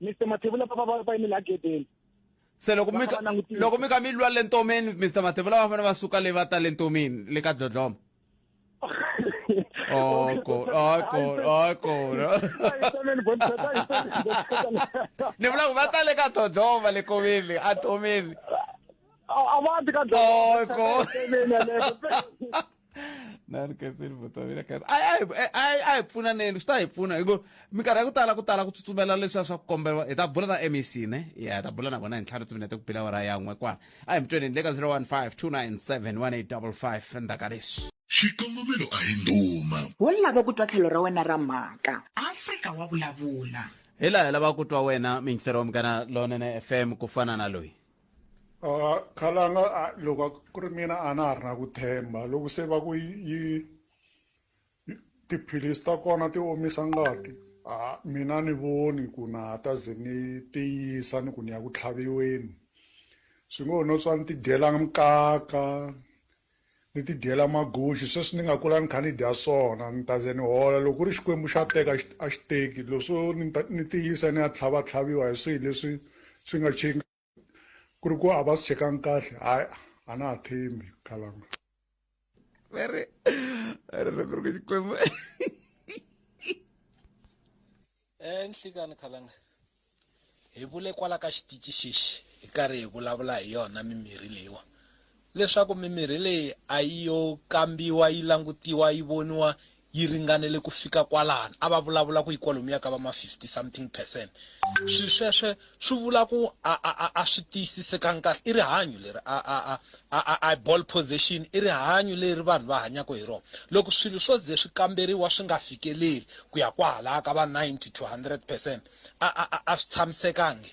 mr mathevula va va va yimile agedeni se loko mi loko mi ka mi lwa le ntomeni mr mathevula va fanele va suka le va ta le ntomeni le ka dlodloma Oko, oko, oko. Ni vula ku va ta le ka dodlova le koveni a tomeni. A va ti ka dodlova. Oko. na ri khanseli vatswavira khansi a a hi- a a- a hi pfunaneni swi ta hi pfuna hi ku minkarhi ya ku tala ku tala ku tsutsumela leswiya swa ku komberiwa hi ta bula na mec ne ya hi ta bula na vona hi ntlhanu timinete ku bila wara yan'we kwala a hi mutweneni le ka 015 297 1855 endzhaku ka leswi xikongomelo a hi ndhuma wo lava ku twa tlhelo ra wena ra mhaka afrika wa vulavula hi laha hi lavaka ku twa wena mingisero wa mugana lonene fm ku fana na loyi Uh, khale a nga a- loko a- ku ri mina a na ha ri na ku themba loko se va ku yi yi- yi- tiphilisi ta kona ti omisa ngati a mina ni voni ku na ha ta ze ni tiyisa ni ku ni ya ku tlhaviweni swi ngo ho no swa ni tidyela nkaka Ni ti dyela maguxi sweswi ni nga kula ni kha ni dya swona ni ta ze ni hola loko ku ri Xikwembu xa teka a xi a xi teki leswo ni ta ni ti yisa ni ya tlhava tlhaviwa hi swihi leswi swi nga ku ri ku a va swi chekangi kahle hayi a na ha tshembi khalanga very very loko ri ku Xikwembu enhlikani khalanga hi vule kwala ka xitici xexi hi karhi hi vulavula hi yona mimirhi leyiwa leswaku mimirhi leyi a yi yo kambiwa yi langutiwa yi voniwa yi ringanele ku fika kwalani a va vulavula ku yi kwalomu ya ka va ma 50 something percent swi sweswe swi vula ku a a a a swi tiyisisekanga kahle i rihanyo leri a a a I ball position i rihanyu leri vanhu va hanyaka hi rona. Loko swilo swo ze swi kamberiwa swi nga fikeleli ku ya kwahalaya ka va 90 to 100 percent, a a a a swi tshamisekangi.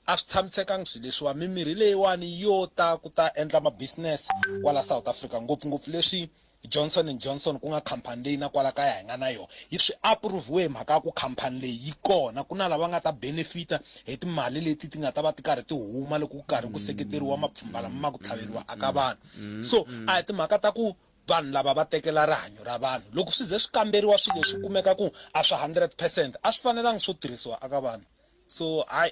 A swi tshamisekangi swilo leswiwani. Mimirhi leyiwani yo ta ku ta endla ma business kwala South Africa, ngopfungopfu leswi Johnson and Johnson ku nga khampani leyi na kwala kaya hi nga na yona yi swi approve-we hi mhaka ya ku khampani leyi yi kona ku na lava nga ta benefita hi timali leti ti nga ta va ti karhi ti huma loko ku karhi ku seketeriwa mapfhumba lama ma ku tlhaveriwa aka vanhu so a hi timhaka ta ku vanhu lava va tekela rihanyo ra vanhu loko swi ze swi kamberiwa swilo leswi kumeka ku a swi 100 percent a swi fanelanga swo tirhisiwa aka vanhu so hayi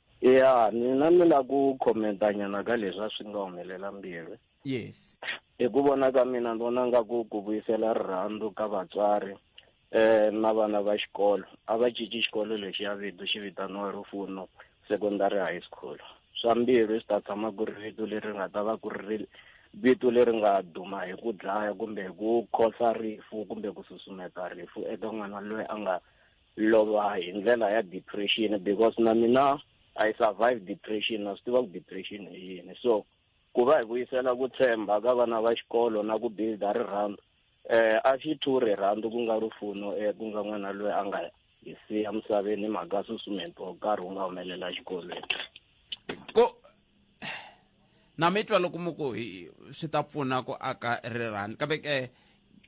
ya mina ni la ku khomentanyana ka leswi a swi nga humelela mbirhi yes hi ku vona ka mina ni vona nga ku ku vuyisela rirhandzu ka vatswari eh na vana va xikolo a va cinci xikolo lexi ya vito xi vitaniwa rufuno secondary high school swa mbirhi swi ta tshama ku ri vito leri nga ta va ku ri vito leri nga duma hi ku dlaya kumbe hi ku khosa rifu kumbe ku susumeta rifu eka n'wana loyi a nga lova hi ndlela ya depression because na mina i survive depression na swi tiva ku depression hi yini so ku va hi vuyisela ku tshemba ka vana va xikolo na ku builda rirhandzu eh a xi thu rirhandzu ku nga rufuno eh ku nga n'wana loyi a nga hi siya misaveni hi mhaka susumento nkarhi wu nga humelela xikolweni na mi twa loko mi ku swi ta pfuna ku aka rirhani kambe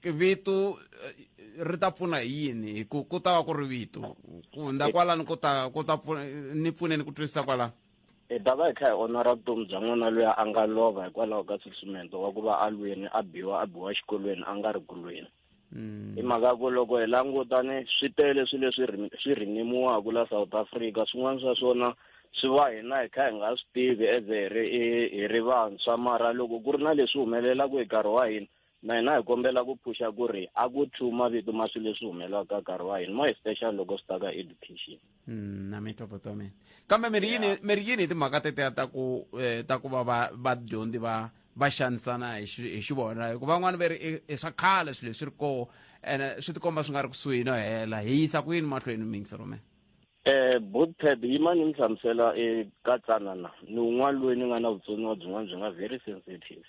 ke vito eh, ri ta pfuna hi yini hi ku ku ta va ku ri vito ku hundza kwalani ku ta ku ta pfuna ni pfuneni ku twisisa kwalani hi ta va hi kha hi onora vutomi bya n'wana loyi a nga lova hikwalaho ka susumento wa ku va a lweni a biwa a biwa xikolweni a nga ri kulweni mm. hi mhaka ku loko hi langutane swi tele swilo leswi swi rinimiwaka la south africa swin'wana swa swona swi va hina hi kha hi nga swi tivi as hi ri hi ri vantshwa mara loko ku ri na leswi humelelaka hi nkarhi wa hina na hina hi kombela ku phuxa ku ri a ku two mavito ma swilo leswi humelelaka nkarhi wa hina more special loko swi ta ka education Mm, na mitopoto mina kambe mi ri yini Yeah. mi ri yini hi timhaka tetiya ta ku eh, ta ku va va vadyondzi va va xanisana hi xi- hi xivona hikuva van'wani va ri i- i swa khale swilo leswi ri koho ene swi tikomba swi nga ri kusuhi no hela hi yisa ku yini mahlweni mingisi rome Eh bootpad yima ni mi hlamusela eka tsanana ni un'wana loyi ni nga na vutsoniwa byin'wana byi nga very sensitive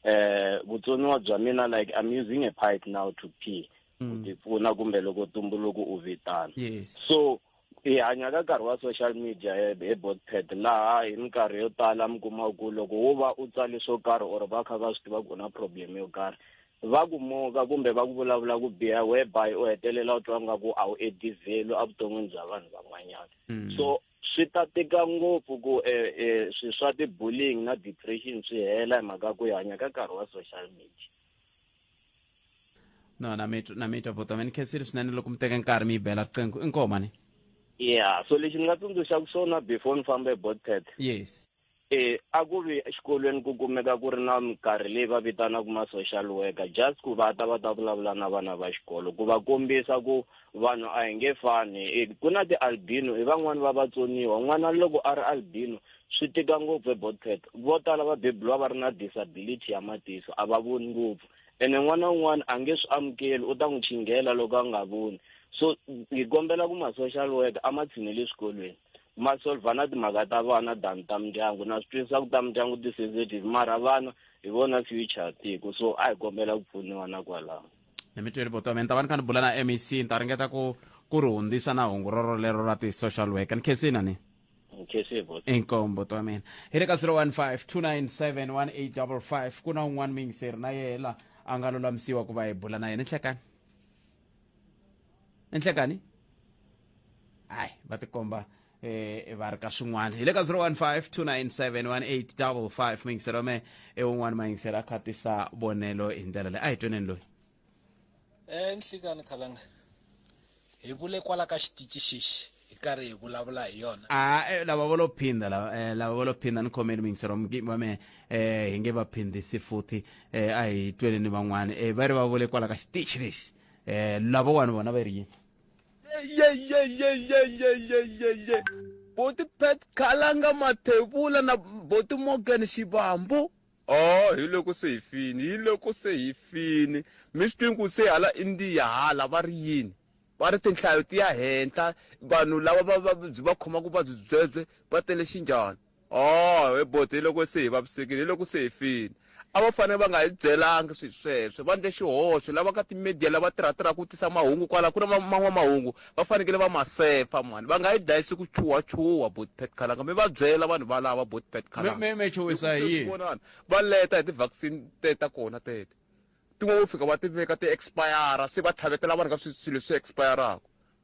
eh vutsoniwa bya mina like i'm using a pipe now to pee ku mm. tipfuna kumbe loko tumbuluku u vitana yes. so hi hanya ka nkarhi wa social media hi botpad laha hi minkarhi yo tala mi kuma ku loko wo va u tsale swo karhi or va kha va swi tiva ku na problem yo karhi va ku moka kumbe va ku vulavula ku biha whereby u hetelela u twa nga ku a wu edivhelu evuton'wini bya vanhu van'wanyana mm. so swi ta tika ngopfu ku um eh, um eh, swi swa ti-bullying na depression swi hela hi mhaka ku hi hanya ka nkarhi wa social media no na mi na mi twa bota ni khensile swinene loko mi teka nkarhi mi yi bela riqingho i nkoho mani yeah so lexi ni nga tsundzuxaka swona before ni famba ebotcat yes e a ku vi exikolweni ku kumeka ku ri na minkarhi leyi va vitanaka ma-social worker just ku va ta va ta vulavula na vana va xikolo ku va kombisa ku vanhu a hi nge fani e, ku na ti-albino hi van'wani va vatsoniwa n'wana loko a ri albino swi tika ngopfu ebotcat vo tala va bebuliwa va ri na disability ya matiso a va voni ngopfu ene n'wana un'wana a nge swi amukeli u ta n'wi chinghela loko a nga voni so hi kombela ku ma-social worker a ma tshinele eswikolweni ma solva na timhaka ta vana than ta mindyangu na swi twisisa ku ta mindyangu ti-sensitive mara vana hi vona future tiko so a hi kombela ku pfuniwa na kwalaho ni mi tweli vutomi ni ta va ni kha ni bula na mec ni ta ringeta ku ku ri hundzisa na hungu roro lero ra ti-social worker ni khensini ani nkhensa vote inkombo to amina hi le ka 015 ku na un'wana miyingiseri na yela a nga lulamisiwa ku va hi bula na yena nhlekani nhlekani hayi va tikomba eh va ri ka swin'wana hi le ka 015 miyingiseri wa me i un'wana mayingiseri a khatisa vonelo hi ndlela leyi a hi tweneni loyi e nhlikani khalanga hi vule kwala ka xitici xexi hi karhi hi vulavula hi yona a eh, lava vo lo phinda lava eh, lava vo lo phinda ni khomeni mingisero mugimi wa mehe eh, hi nge va phindisi futhi eh, a hi twele ni van'wana eh, va ri va vule kwala ka xitici lexi eh, lava wani vona va ri yini yeyeyeyeyeyeyeye boti pet khalanga mathevula na boti morgan xivambu Oh, hiloko se hi fini, hiloko se hi fini. Mi swi twi ku se hala Indiya hala va ri yini? Va ri tinhlayo ti ya henhla, vanhu lava va va byi va khomaka vuvabyi byebye va tele xinjhani. Oh, he boti hiloko se hi vavisekile, hiloko se hi fini. A va fanele va nga hi byelanga swilo sweswo, va ndle xihoxo. Lava ka ti-media lava tirhatirhaka ku tisa mahungu kwala ku ri van'wamahungu va fanekele va ma sefa mhani va nga yi dlayisi ku chuha chuha boti petkalanga mi va byela vanhu valava boti petkalanga me me chowisa hi yini vonani va leta hi ti vaccine te ta kona tete tin'wana vo fika va ti veka ti expire se va tlhavetela vanhu ka swilo swi expiraka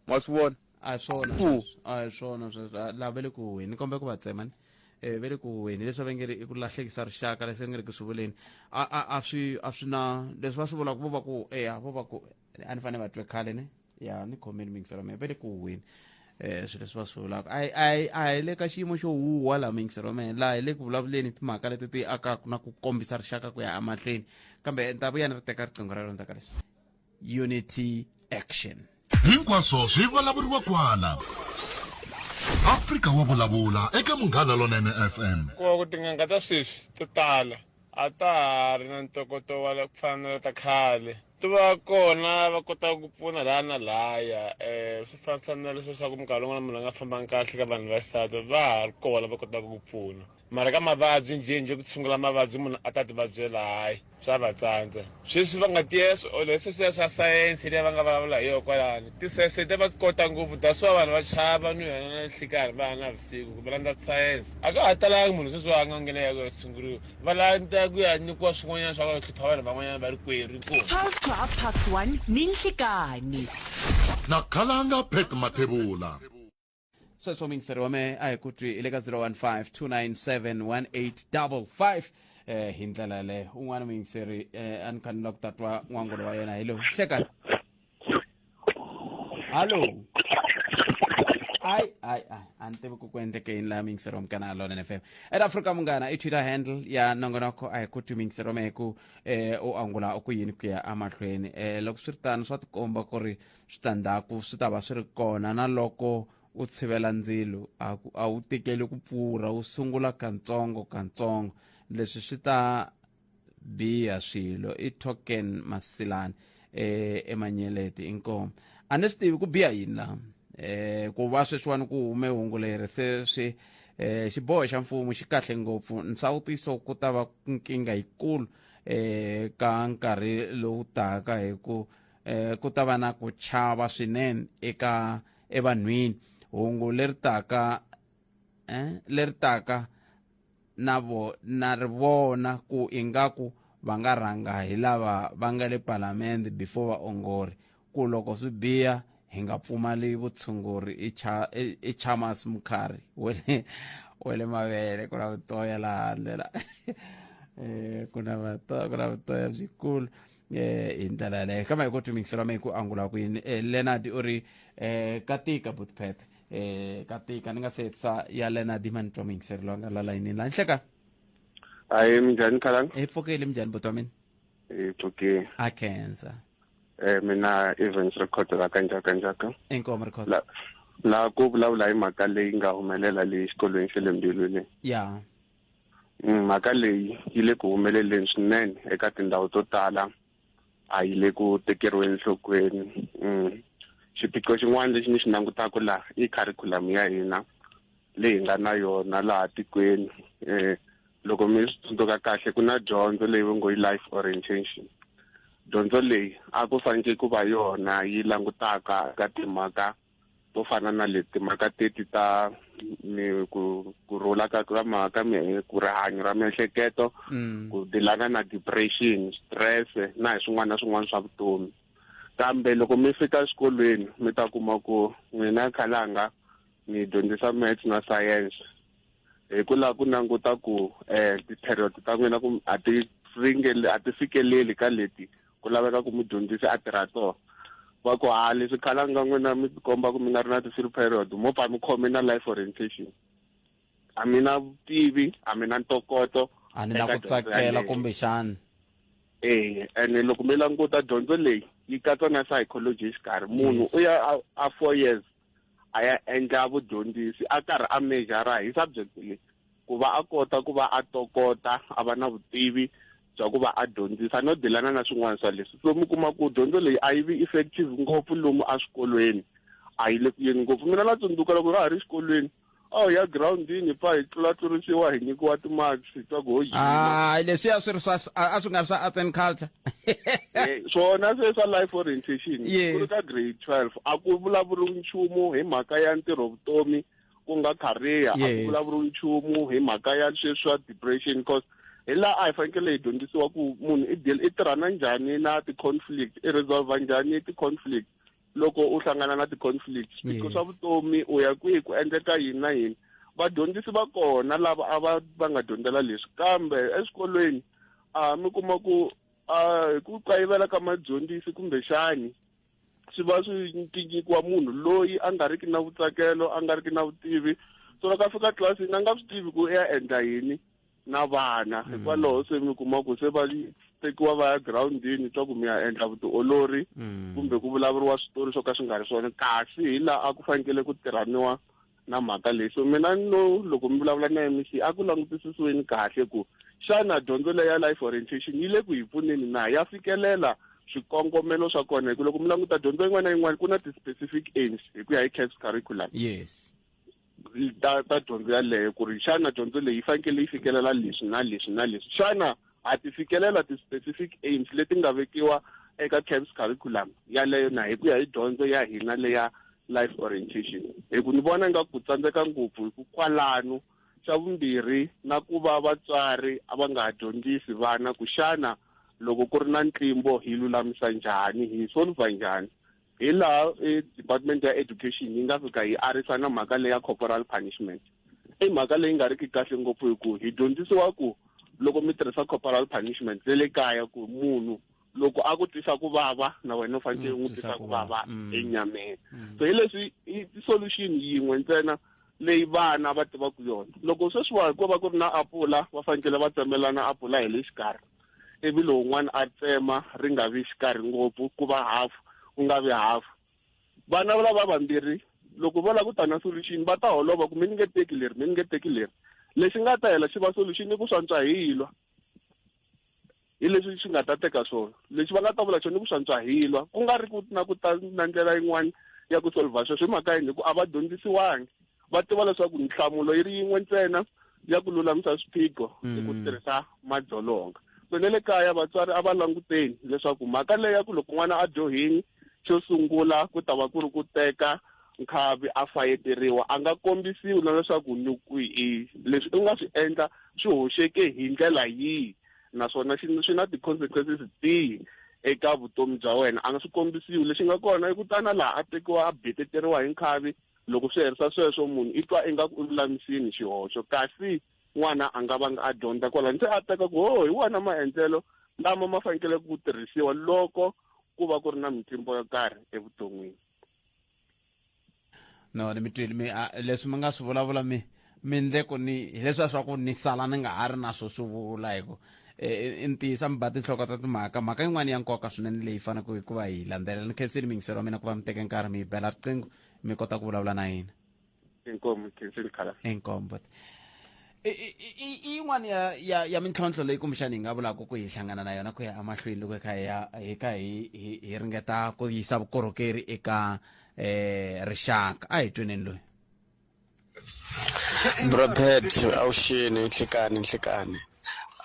ma swi vona a hi swona sweswo a hi swona sweswo Ah, lava le ku huweni kombe ku va tsema ni eh ve le ku huweni leswi va nge ri i ku lahlekisa rixaka leswi va nge ri ku swi vuleni a a a swi a swi na leswi va swi vulaka vo va ku eya vo va ku a ni fanele va twe khale ni ya ni khomeni mingisela mehe va le ku huhweni um swilo leswi va swi vulaka a hi- a hi- a hi le ka xiyimo xo huhwa laha mingiselo mehe laha hi le ku vulavuleni hi timhaka leti ti akaka na ku kombisa rixaka ku ya emahlweni kambe ni ta vuya ni ri teka riqingho rero ndzaka leswi unity action hinkwaswo swi vulavuriwa kwala afrika wa vulavula eka munghana lonene fm kuva ku tin'anga ta sweswi to tala a ta ha ri na ntokoto wa la- ku fana na la ta khale ti va kona va kotaka ku pfuna laha na lahaya um swi fanisa na leswi leswaku minkarhi yin'wana munhu a nga fambangi kahle ka vanhu va xisati va ha ri kona va kotaka ku pfuna mara ka mavabyi njhenjhe ku tshungula mavabyi munhu a ta tivabyela hayi swa va tsandza sweswi va nga tiya swi ole sweswi swiya swa sayense leyi va nga vulavula hi yona kwalani tisayense leti va ti kota ngopfu that's why vanhu va chava ni yona na nhlikarhi va ya na vusiku kumbe landza tisayense a ka ha talangi munhu sweswi a nga nghena ya ku ya tshunguriwa va lanta ku ya nyikiwa swin'wanyana swa va hlupha vanhu van'wanyana va ri kweri inkomu 12 to half past 1 ni nhlikani na khalanga pet mathebula sweswo mingiseri wa me a hi ku twi hi le ka 015 297 1855 eh hi ndlela yaleyo un'wana mingiseri eh a ni kha ni la ku tatwa n'wangulo wa yena hi lowu hlekani hallo ai ai ai a ni tivi ku ku endleke yini laha mingiserom ka na lona fm at africa munghana i twitter handle ya nongonoko a hi ku twi mingiserom hi ku eh, u angula u ku yini ku ya emahlweni eh, loko swi ri tano swa tikomba ku ri switandzhaku swi ta va swi ri kona na loko u tshivela ndzilo a ku- a wu tekeli ku pfurha wu sungula kantsongo kantsongo leswi swi ta biya swilo i token masilani eh emanyeleti inkomo a ni swi tivi ku biya yini la eh ku va sweswiwani ku hume hungu leri se swi eh xiboho xa mfumo xi kahle ngopfu nsawutiso ku ta va nkingha yikulu eh ka nkarhi lowu taka hi ku eh ku ta va na ku chava swinene eka evanhwini hungu leri taka eh leri taka na vo na ri vona ku ingaku va nga rhanga hi lava va nga le palamende before vaongori ku loko swi biha hi nga pfumali vutshunguri i cha i- i chamas mukhari we le we le mavele ku na vutoya laha handle la Eh, ku na vato- ku na vutoya byikulu eh hi ndlela yaleyo kambe hi ku twimingisela me ku angula kwini eh, leonard u ri eh katika butpet eh ka tika ni nga se tsa ya lena diman toming se lo nga la line la nhleka ayi minjani khalang e pfokele minjani botwa mina e pfokele a kenza eh mina events record la kanja kanja ka inkomo record la la ku vulavula hi mhaka leyi nga humelela leyi xikolweni xe le mbilwini ya mm, mhaka leyi yi le ku humeleleni swinene eka tindhawu to tala a yi le ku tekeriweni nhlokweni mm. xiphiqo xin'wana lexi ni xi langutaka laha i kharikhulamu ya hina leyi nga na yona laha tikweni um loko mi swi tsundzuka kahle ku na dyondzo leyi va ngo yi life orientation dyondzo leyi a ku faneke ku va yona yi langutaka ka timhaka to fana na leti timhaka teti ta mi ku ku rhula ka ka ma ka mi ku rihanyo ra miehleketo mm. ku dilana na depression stress na hi swin'wana na swin'wana swa vutomi kambe loko mi fika exikolweni mi ta kuma ku n'wina khalanga mi dyondzisa maths na science hi ku lava ku languta ku um ti-period ta n'wina a ti a ti fikeleli ka leti ku laveka ku mudyondzisi a tirha toho va ku ha leswi khala nga n'wina mi tikomba ku mi nga ri na ti-free period mo pfa mi khome na life orientation a mi na vutivi a mi na ntokoto a ni na ku tsakela kumbexani e ene loko mi languta dyondzo leyi yi katsa na psychology exikarhi munhu u ya a four years a ya endla vudyondzisi a karhi a mejara hi subject leyi ku va a kota ku va a tokota a va na vutivi bya ku va a dyondzisa no dilana na swin'wana swa leswi so mi kuma ku dyondzo leyi a yi vi effective ngopfu lomu eswikolweni a yi le ku yeni ngopfu mina na tsundzuka loko ra ha ri xikolweni a wu ya girawundini hi pfa hi tlulatlurisiwa hi nyikiwa timarks ta ku ho yima hayi leswiya swi ri swa a a swi nga ri swa arts and culture Eh, swona se swa life orientation Yes. ku ri ka grade 12 a ku vulavuriwi nchumu hi mhaka ya ntirho vutomi ku nga career a ku Yes. vulavuriwi nchumu hi mhaka ya sweswi swa depression because hi laha a hi fanekele hi dyondzisiwa ku munhu i deal i tirhana njhani na ti-conflict i resolve njhani ti-conflict loko u hlangana na ti-conflict swiphiqo swa vutomi u ya kwihi ku endleka yini na yini vadyondzisi va kona lava a va va nga dyondzela leswi kambe eswikolweni a mi kuma ku a hi ku kayivela ka madyondzisi kumbexani swi va swi nyikiwa munhu loyi a nga riki na vutsakelo a nga riki na vutivi so loko a fika tlilasini a nga swi tivi ku i ya endla yini na vana mm. hikwalaho se mi kuma ku se va tekiwa va ya girawundini swa ku mi ya endla vutiolori mm. kumbe ku vulavuriwa switori swo ka swi nga ri swona kasi hi laha a ku fanekele ku tirhaniwa na mhaka leyi so mina no loko mi vulavula na mec a ku langutisisiweni kahle ku xana dyondzo leyi ya life orientation yi le ku hi pfuneni na ya fikelela swikongomelo swa kona hi ku loko mi languta dyondzo yin'wana na yin'wana ku na ti-specific aims hi ku ya hi caps curriculum yes ta ta dyondzo yaleyo ku ri xana dyondzo leyi yi fanekele yi fikelela leswi na leswi na leswi xana ha ti fikelela ti-specific aims leti nga vekiwa eka camps curriculum yaleyo na hi ku ya hi dyondzo ya hina leya life orientation hi ku ni vona nga ku tsandzeka ngopfu hi ku kwalano xa vumbirhi na ku va vatswari a va nga ha dyondzisi vana ku xana loko ku ri na ntlimbo hi lulamisa njhani hi solva njhani hi laha e department ya education yi nga fika yi arisa na mhaka leya corporal punishment i mhaka leyi nga ri ki kahle ngopfu hi ku hi dyondzisiwa ku loko mi tirhisa corporal punishment le le kaya ku munhu loko a ku twisa ku vava na wena u fanekele mm, u n'wi twisa ku vava mm. enyameni mm. so hi leswi i solution yin'we ntsena leyi vana va tivaka yona loko sweswiwa ko va ku ri na apula va fanekele va tsemelana apula hi le xikarhi ivi lowun'wana a tsema ri nga vi xikarhi ngopfu ku va hafu ku nga vi hafu vana lava vambirhi loko vo lava ku ta na solution va ta holova ku mi ni nge teki leri mi ni nge teki leri lexi nga ta hela xi va solution i ku swantswa hi yilwa hi leswi swi nga ta teka swona lexi va nga ta vula xona i ku swantswa hi yilwa ku nga ri ku na ku ta na ndlela yin'wana ya ku solva sweswo hi mhaka yini hi ku a va dyondzisiwangi va tiva leswaku nhlamulo yi ri yin'we ntsena ya ku lulamisa swiphiqo hi ku mm. tirhisa madzolonga so ne le kaya vatswari a va languteni leswaku mhaka leyi ya ku loko n'wana a dyohini xo sungula ku ta va ku ri ku teka nkhavi a fayeteriwa a nga kombisiwi na leswaku nukwihi leswi u nga swi endla swi hoxeke hi ndlela yihi naswona swi na ti-consequences tihi eka vutomi bya wena a nga swi kombisiwi lexi nga kona i ku tana laha a tekiwa a beteteriwa hi nkhavi loko swi herisa sweswo munhu i twa ingaku u lulamisini xihoxo kasi n'wana a nga vanga a dyondza kwalani se a teka ku ho oh, hi wona maendlelo lama ma fanekele ku tirhisiwa loko ku va ku ri na mitlimbo yo karhi evuton'wini no ni mi twile mi leswi mi nga swi vulavula mi mi ndle ku ni hileswi a swa ku ni sala ni nga ha ri na swo swi vula hi ku i e, e, e, ntiyiso mi ba tinhloko ta timhaka mhaka yin'wana ya nkoka swinene leyi faneleke hikuva hi landzelela ni khensile miyingiselo wa mina ku va mi teke nkarhi mi yi bela riqingho mi kota ku vulavula na yini inkomu khensini khala inkombo I- i- i- i- i yin'wana ya ya ya mintlhontlho leyi kumbexana hi nga vulaka ku hi hlangana na yona ku ya emahlweni loko hi kha hi ya- hi kha hi hi- hi ringeta ku yisa vukorhokeri eka um rixaka a hi tweneni loyi Brobert awusheni nhlikani nhlikani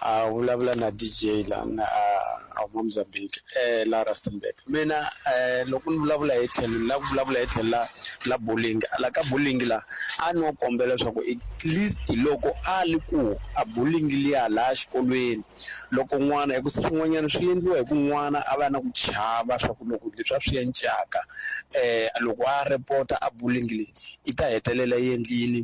a vulavula na DJ la na a huma Mozambique eh la Rustenburg mina eh loko ni vulavula hi tlhelo la ku vulavula hi tlhelo la la bowling la ka bowling la a no kombela leswaku at least loko a li ku a bowling liya laha xikolweni loko n'wana hi ku se swin'wanyana swi endliwa hi ku n'wana a va na ku chava swa ku loko leswi a swi encaka eh loko a report a bowling leyi yi ta hetelela yi endli yini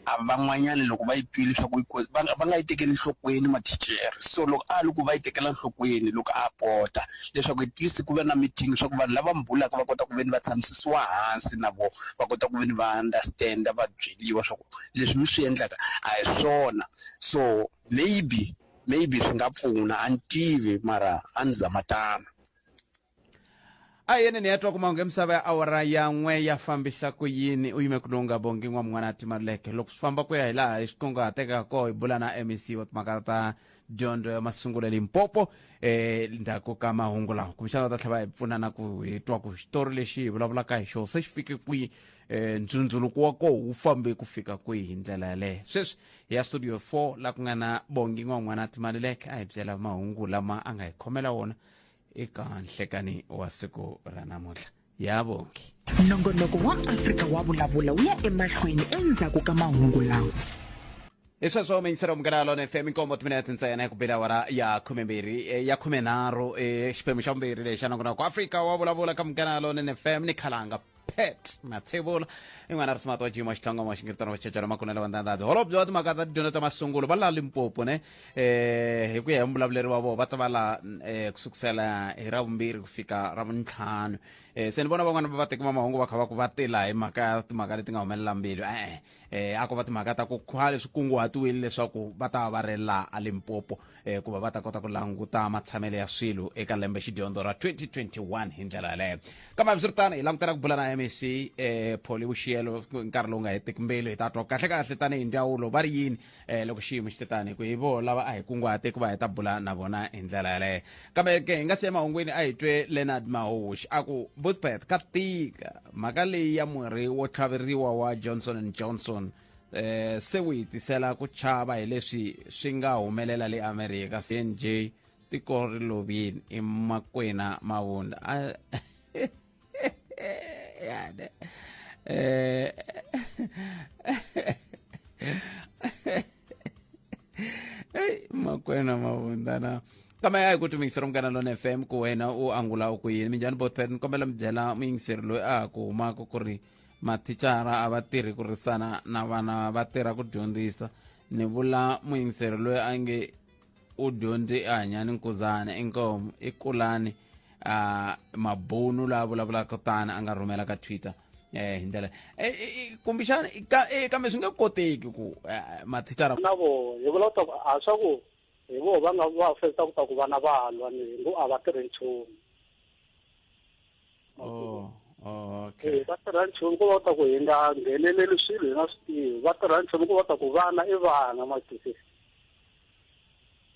a van'wanyana loko va yi twile swa ku yi ko va nga va nga yi tekeli nhlokweni mathicara so loko a loko va yi tekela nhlokweni loko a pota leswaku at least ku va na meeting swa ku vanhu lava mi bulaka va kota ku ve ni va tshamisiwa hansi na vona va kota ku ve ni va understand va byeliwa swa ku leswi mi swi endlaka a hi swona so maybe maybe swi nga pfuna a ni tivi mara a ni zama tano. a hi yeneni ya twa ku mahungu ya misava ya awara ya n'we ya fambisa ku yini u yime ku lowu nga bongi n'wan'wana ti maluleke loko swi famba ku ya hi laha hi xikunguhateka kona hi bula na mec wa timhaka ta dyondzo ya masungulo ya limpopo eh ndzhaku ka mahungu lawa kumbexana va ta tlhela va hi pfuna na ku hi twa ku xitori lexi hi vulavulaka hi xona se xi fike kwihi eh ndzundzuluko wa koho wu fambe ku fika kwihi hi ndlela yaleyo sweswi hi ya studio 4 la ku nga na bongi n'wan'wana timaluleke a hi byela mahungu lama a nga hi khomela wona eka nhlekani wa siku ra namuntlha ya vongi nongonoko wa afrika wa vulavula wu ya emahlweni endzhaku ka mahungu lawa hi sweswo mingisero munghana lona fm nkombo timinete ntsena ku bela awara ya khumembirhi eh, ya khumenharhu eh, xiphemu xa vumbirhi lexi xa nongonoko afrika wa vulavula ka munghana lona fm ni khalanga pet matsevula i n'wana ri simati wa jima xitlhonga wa xingiritano wa chechela makunelo wa ndandadzi holobye wa timhaka ta tidyondzo ta masungulo va laha limpopo ne um hi ku ya hi muvulavuleri wa vona va ta va laha um ku sukusela hi ra vumbirhi ku fika ra vuntlhanu um se ni vona van'wana va vateki va mahungu va kha va ku va tila hi mhaka ya timhaka leti nga humelela mbilu e-e eh a ko va timhaka ta ku khale swi kunguhatiwile leswaku va ta va ri laha a limpopo eh ku va va ta kota ku languta matshamelo ya swilo eka lembe xidyondzo ra 2021 hi ndlela yaleyo kambe hambiswiritano hi langutela ku bula na mec eh pholi vuxiyelo nkarhi lowu nga hetiki mbilu hi ta twa kahle kahle tanihi ndzawulo va ri yini eh loko xiyimo xi te tani ku hi vo lava a hi kunguhate ku va hi ta bula na vona hi ndlela yaleyo kambe ke hi nga si emahungwini a hi twe leonard mahoxi a ku boothpath ka tika mhaka leyi ya murhi wo tlhaveriwa wa johnson and johnson eh se wu hi tisela ku chava hi leswi swi nga humelela le america cnj tiko ri lovini emakwena mavundla yani eh, Ei, makwena mavundana kama ya hi ku timingisela munghana lona fm ku wena u angula u ku yini minjhani botpet ni kombela mi byela muyingiseri loyi a ha ku humaka ku ri mathicara a va tirhi ku risana na vana va tirha ku dyondzisa ni vula muyingiseri loyi a nge u dyondze i hanyani nkuzana inkomo i kulani uh, mabunu la vulavulaka tani a nga rhumela ka twitter eh hi ndlela eh, eh, eh, kumbexana ka- eh, kambe swi nge koteki ku eh, mathicara na vo hi vula ku ta ku a swa ku hi vo va nga va fesa ku ta ku vana va lwa ni ngo a va tirhi nchumu oh, oh, okay. va tirha nchumu ko va ta ku hi nga ngheneleli swilo hi nga swi tivi va tirha nchumu ko va ta ku vana i vana matisi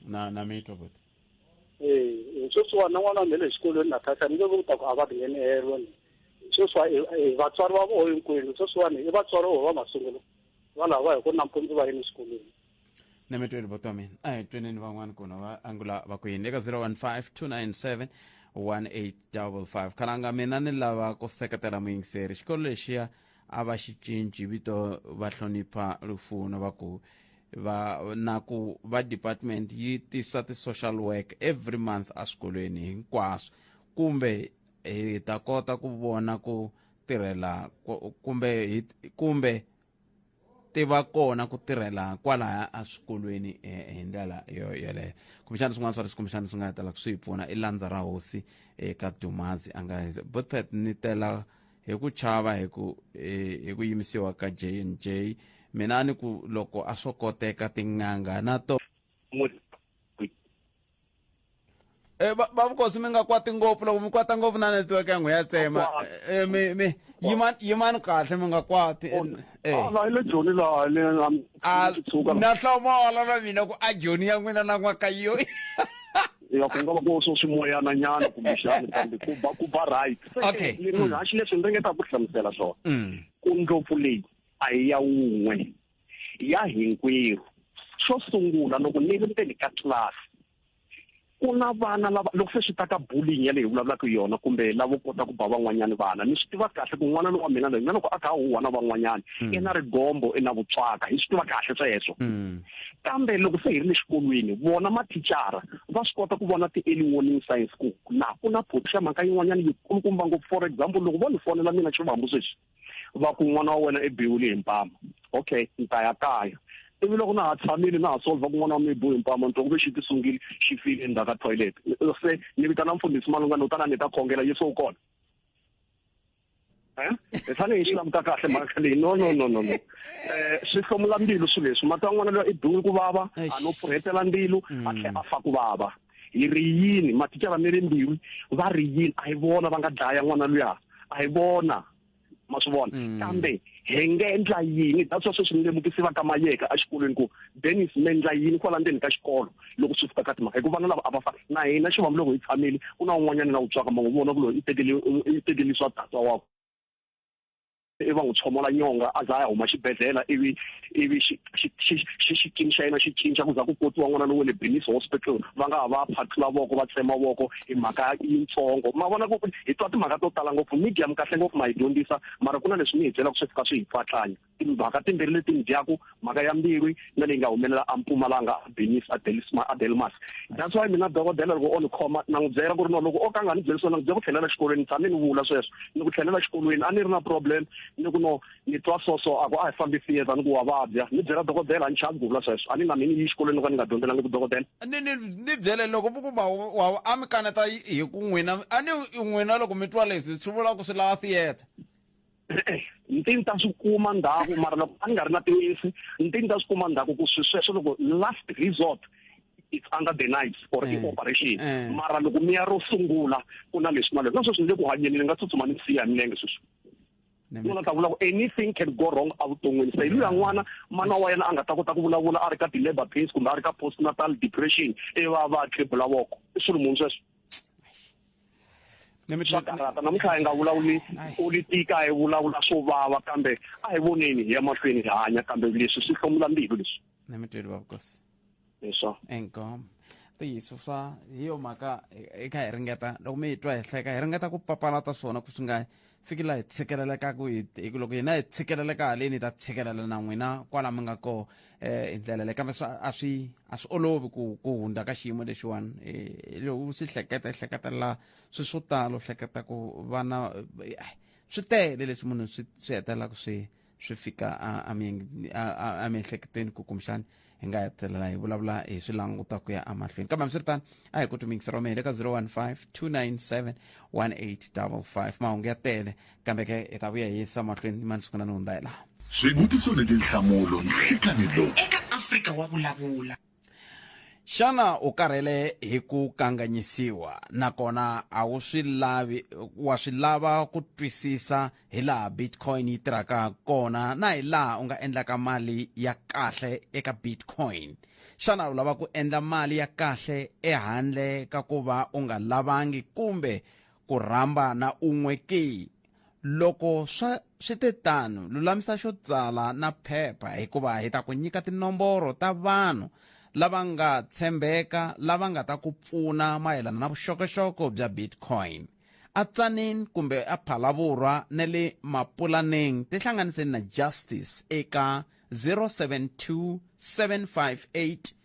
na na mi twa buti ee sweswiwa na n'wana nghele exikolweni na thasa ni nge ku ta ku a va tinghenehelo ni sweswiwa vatswari va voho hinkwenu sweswiwani i vatswari voho va masungulo valava hi ku nampundzu va yini exikolweni na mi tweli votomi a hi tweneni van'wani kuna va angula va ku yini eka 015297 1855 khalanga mina ni lava ku seketela muyingiseri xikolo lexiya a va xi cinci vito va hlonipha lufuno va ku va na ku va department yi tisa ti-social work every month eswikolweni hinkwaswo kumbe hi ta kota ku vona ku tirhela ku- kumbe hi- kumbe ti va kona ku tirhela kwalaya eswikolweni eh, hi ndlela yo yeleyo kumbexana swin'wana swa leswi kumbexana swi nga tala ku swi hi pfuna i landza ra hosi eka eh, dumazi a nga botpet ni tela hi ku chava hi ku eh, hi ku yimisiwa ka j n j mina ni ku loko a swo koteka tin'anga na to Eh, ba ba vukosi mi nga kwati ngopfu loko mi kwata ngopfu na network ya n'we ya tsema Kwata. Eh, eh, mi mi yimani yimani kahle mi nga kwati Eh, eh. Ah, la ile joni la le am Ah, tsuka na hlomola na mina ku a joni ya n'wina na n'wakayo ya ku nga va ku swo swimoyana nyana kumbe xana kambe ku ba ku ba right Okay. ni munhu haxi leswi ni ringeta ku hlamusela swona Mm. ku ndlopfu leyi a hi ya wun'we ya hinkwerhu xo sungula loko ni ri ndzeni ka class ku na vana lava loko se swi ta ka bullying ya leyi hi vulavulaka yona kumbe lavo kota ku ba van'wanyana vana ni swi tiva kahle ku n'wana lowa mina loyi na loko a kha a huhwa na van'wanyana hmm. i na rigombo i na vutswaka hi swi tiva kahle sweswo hmm. kambe loko se hi ri le xikolweni vona mathicara va swi kota ku vona ti-early warning science ku la ku na photi xa mhaka yin'wanyana yi kulukumba ngopfu for example loko vo ni fonela mina xivambu sweswi va ku n'wana wa wena i biwile hi mpama okay ni ta ya kaya ivi loko na ha tshamile na ha solva kun'wana wa mibu hi mpama nto kuve xi ti sungile xi file endzhaku ka toilet se ni vitana mfundhisi malungana u ta na ni ta khongela yesu u kona eh? hi fanele hi swi languta kahle mhaka leyi no no no no no eh swi hlomula mbilu swilo leswi mati wa n'wana loyi i biwile ku vava a no pfuhetela mbilu a tlhe a fa ku vava hi ri yini maticha va mere mbilu va ri yini a hi vona va nga dlaya n'wana luya a hi vona ma swi vona mm. kambe hi nga endla yini that's why sweswi ni lemukisi va ka mayeka exikolweni ku dennis mi endla yini kwala ndzeni ka xikolo loko swi fika ka timhaka hikuva vana lava a va fani na hina xi vambi loko hi tshamile ku na un'wanyana na wu twaka mango vona ku loyi i tekele i tekele swa tatwa wakwe ivi va n'wi tshomola nyonga a za a ya huma xibedhlele ivi ivi xikimi xa yena xi cinca ku za ku kotiwa n'wana lowo le benis hospital va nga ha va phathula voko va tsema voko hi mhaka yintsongo ma vona ku hi twa timhaka to tala ngopfu media mi kahle ngopfu ma hi dyondzisa mara ku na leswi mi hi byelaka swi fika swi hi twatlanya timhaka timbirhi leti mi dyaku mhaka ya mbilu na leyi nga humelela a Mpumalanga a Benis a Delisma a Delmas that's why mina dokodela loko o ni khoma na n'wi byela ku ri no loko o ka nga ni byeli swona ni byela ku tlhelela xikolweni tshame ni vula sweswo ni ku tlhelela xikolweni a ni ri na problem ni ku no ni twa so so a ku a hi fambi theatre ni ku wa vabya ni byela dokodela a ni chavi ku vula sweswo a ni na mini yi xikolweni ka ni nga dyondzelanga ku dokodela ni ni ni byele loko mi ku ma wa a mi kaneta hi ku n'wina a ni n'wina loko mi twa leswi swi vula ku swi lava theatre ntini ta swi kuma ndhaku mara loko a ni nga ri na tinisi ntini ta swi kuma ndhaku ku swi sweswo loko last resort it's under the knives or mm. i-operation mm. mara loko mi ya ro sungula ku na leswi na leswi na sweswi ni le ku hanyeni ni nga tsutsuma ni siya milenge sweswi nuna ta vula ku anything can go wrong evuton'wini se hi luya n'wana mana wa yena a nga ta kota ku vulavula a ri ka ti-labor pains kumbe a ri ka post natal depression e va va tribula voko i swilo munhu sweswo swa karhata namuntlha hi nga vulavuli politiki a hi vulavula swo vava kambe a hi voneni hi ya mahlweni hi hanya kambe leswi swi hlomula mbilu leswi na mitweli wa vukosi leswo engom ntiyiso swa hi yo mhaka hi kha hi ringeta loko mi yi twa hi hleka hi ringeta ku papalata swona ku swi nga fikile laha hi tshikelelekaku hi ku loko hina hi tshikeleleka haleni hi ta tshikelela na n'wina kwala mi nga koho um eh, hi ndlela leyi kambe a swi a swi olovi ku ku hundza ka xiyimo lexiwani eh, u swi hleketa i hleketelela swi swo tala u hleketa ku vana eh, swi tele leswi munhu swi swi hetelelaka swi swi fika emiehleketweni ku kumbexani hi nga hetelela hi vulavula hi swi languta ku ya emahlweni kambe hambiswiritano a hi ku tumingisa roma hi le ka 015 297 1855 mahungu ya tele kambe ke hi ta vuya hi yisa mahlweni ni mansiku na ni hundzayelaha swivutiso ni tinhlamulo nhlikanhi lowu eka afrika wa vulavula xana u karhele hi ku kanganyisiwa nakona a wu swi lavi wa swi lava ku twisisa hi laha bitcoin yi tirhaka kona na hi laha u nga endlaka mali ya kahle eka bitcoin xana u lava ku endla mali ya kahle ehandle ka ku va u nga lavangi kumbe ku rhamba na un'we ki Loko swa swi te tano, lulamisa xo tsala na phepha hikuva hi ta ku nyika tinomboro ta vanhu lava nga tshembeka lava nga ta ku pfuna mayelana na vuxokoxoko bya Bitcoin. A Tzaneen kumbe a Phalavurwa ne le Mapulaneng tihlanganiseni na Justice eka 072 758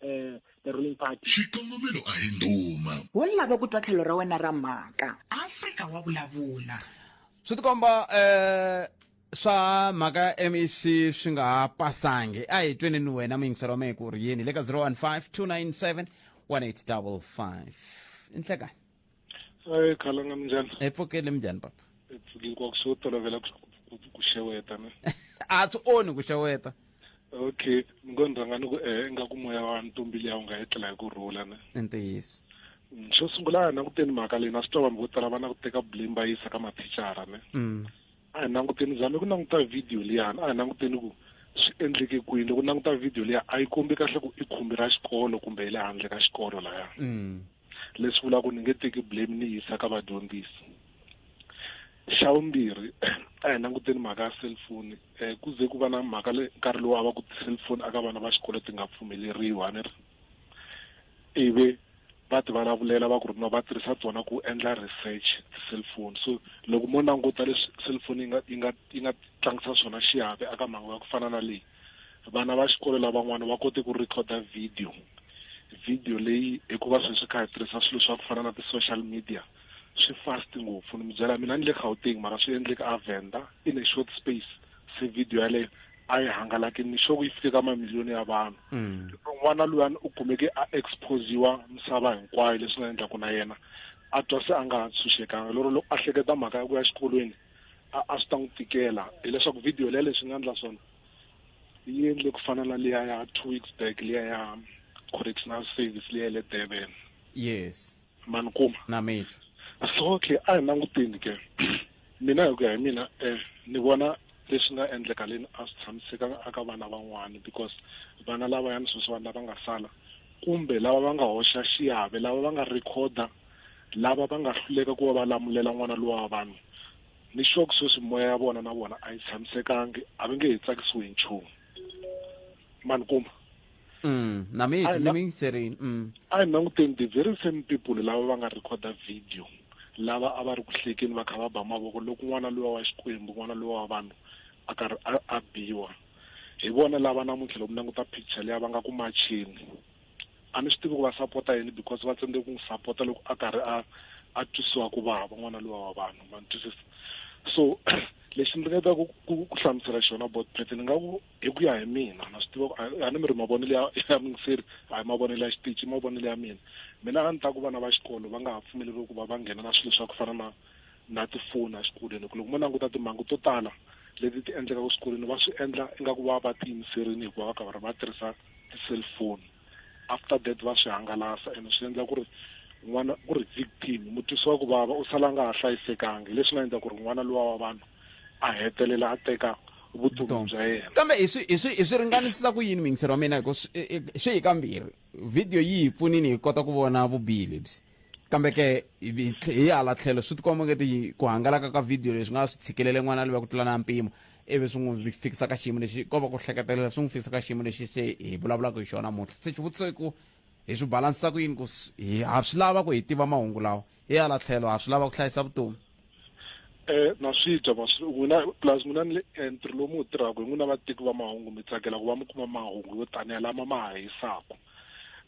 eh, the ruling party xikongomelo a hi nduma wo lava ku twa tlhelo ra wena ra mhaka afrika wa vulavula swi tikomba eh swa mhaka ya mec swi nga ha pasangi a hi tweni ni wena muyingiseri wa mehe ku ri yini le ka 015 297 1855 inhlekani ayi khalanga minjani hi pfukile minjani papa hi pfukile kwa ku tolovela ku xeweta ne a swi onhi ku xeweta okay ni ngo ni rhanga ni ku e ingaku moya wa ntombi liya wu nga etlela hi ku rhula ne i ntiyiso mm, xo sungula a hi languteni mhaka leyi na swi tova vanhu vo tala va na ku teka blame va yisa ka mathicara ne mm. a hi languteni zame ku languta video liyani a hi languteni ku swi endleke kwini loko languta video liya a yi kombi kahle ku i khumbi ra xikolo kumbe hi le handle ka xikolo laya mm. leswi vulaka ku ni nge teki blame ni yisa ka vadyondzisi xa vumbirhi a hi languteni mhaka ya cellphone um ku ze ku va na mhaka le nkarhi lowu a va ku ti-cellphone aka vana va xikolo ti nga pfumeleriwi a ni ri ivi va ti vulavulela va ku ri no va tirhisa tona ku endla research ti-cellphone so loko mo languta leswi cellphone yi nga yi nga yi nga tlangisa swona xiave aka mhangu ya ku fana na leyi vana va xikolo lavan'wana va kote ku recorda video video leyi hikuva sweswi swi kha hi tirhisa swilo swa ku fana na ti-social media swi fast ngopfu ni mi byela mina ni le gauteng mara swi endleke a venda in a short space se video yaleyo a yi hangalaki ni sure ku yi fike ka mamiliyoni ya vanhu mm. n'wana luyani u kumeke a exposiwa misava hinkwayo leswi nga endlaku na yena a twa se a nga ha tshunxekanga lero loko a hleketa mhaka ya ku ya xikolweni a a swi ta n'wi tikela hileswaku video leya leswi nga endla swona yi endle ku fana na liya ya two weeks back liya ya correctional service liya ya le durban yes mani kuma na mithu so okay a hi languteni ke mina hi ku ya hi mina um ni vona leswi nga endleka leni a swi tshamisekanga aka vana van'wana because vana lavayani sweswiwani lava nga sala kumbe lava va nga hoxa xiave lava va nga rhekhoda lava va nga hluleka ku va va lamulela n'wana lowa wa vanhu ni xoku sweswi moya ya vona na vona a yi tshamisekangi a va nge he tsakisiwi hi nchumu mani kuma mm, na mi ni mi yingiserini mm. a hi languteni the very same people lava va nga recorda video lava a va ri ku hlekeni va kha va ba mavoko loko n'wana lowa wa xikwembu n'wana lowa wa vanhu a karhi a biwa hi vona lava namuntlha loku languta picture leyi va nga ku machini a ni swi tivi ku va sapota yini because va tsandze ku n'wi sapota loko a karhi a a twisiwa ku vava n'wana lowa wa vanhu ma ni twisisa so lexi ndzi nga ta ku ku ku hlamusela xona bot pet ni nga ku hi ku ya hi mina na swi tiva ku a- a ni mi ri mavonelo ya ya mingiseri a hi mavonelo ya xitichi i mavonelo ya mina mina a ni ta ku vana va xikolo va nga ha pfumeleriwi ku va va nghena na swilo swa ku fana na na tifoni exikolweni ku loko mo languta timhangu to tala leti ti endlekaka swikolweni va swi endla ingaku va va tiyimiserile hikuva va karhi va tirhisa ti-cellphone after that va swi hangalasa and swi endla ku ri n'wana ku ri victim mutwisi wa ku vava u sala nga ha hlayisekangi leswi nga endla ku ri n'wana luwa wa vanhu a hetelela a teka vutomi bya yena kambe hi swi hi swi hi swi ringanisisa ku yini mingisero wa mina hikuva swi hi kambirhi video yi hi pfunini hi kota ku vona vubihi lebyi kambe ke hi hala tlhelo swi tikomba ngeti ku hangalaka ka video leswi nga swi tshikelele n'wana loyi ku tlula na mpimo ivi swi n'wi fikisa ka xiyimo lexi ko va ku hleketelela swi n'wi fikisa ka xiyimo lexi se hi vulavulaka hi xona muntlha se xivutiso i ku hi swi balansisa ku yini ku ha swi lava ku hi tiva mahungu lawa hi hala tlhelo ha swi lava ku hlayisa vutomi eh na swi dya ma swi n'wina plus n'wina ni le entry lomu wu tirhaka hi n'wina vatiki va mahungu mi tsakela ku va mi kuma mahungu yo taniya lama ma ha hisaka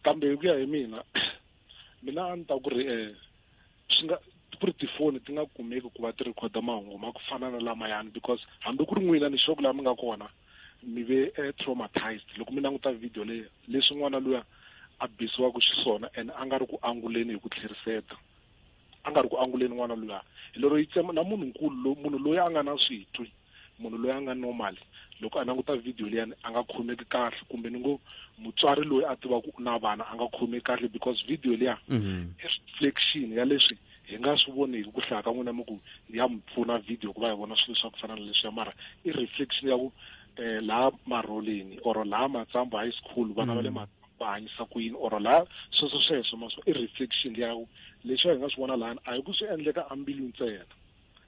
kambe hi ku ya hi mina mina a ni ta ku ri um swi nga ku ri tifoni ti nga kumeki ku va ti rhikhoda mahungu ma ku fana na lamayani because hambi ku ri n'wina ni xoku laha mi nga kona mi ve eh, traumatized loko mi languta video leyi leswi n'wana luya a bisiwaka xiswona and a nga ri ku anguleni hi ku tlheriseta a nga ri ku anguleni n'wana luya hi lero yi tsema na munhu nkulu lo munhu loyi a nga na switwi munhu loyi a nga normal loko a languta video liyani a nga khomeki kahle kumbe ni ngo mutswari loyi a tivaka u na vana a nga khomeki kahle because video liya mhm. i reflection ya leswi hi nga swi voneki ku hlaya ka n'wina mi ku ya mi pfuna video ku va hi vona swilo swa ku fana na leswiya mara i reflection ya ku um laha marholeni or laha matsambu high school vana va le mhm. matsambu va hanyisa ku yini or la sweswo sweswo ma swo i reflection ya ku leswi hi nga swi vona lani a hi ku swi endleka ambilu ntsena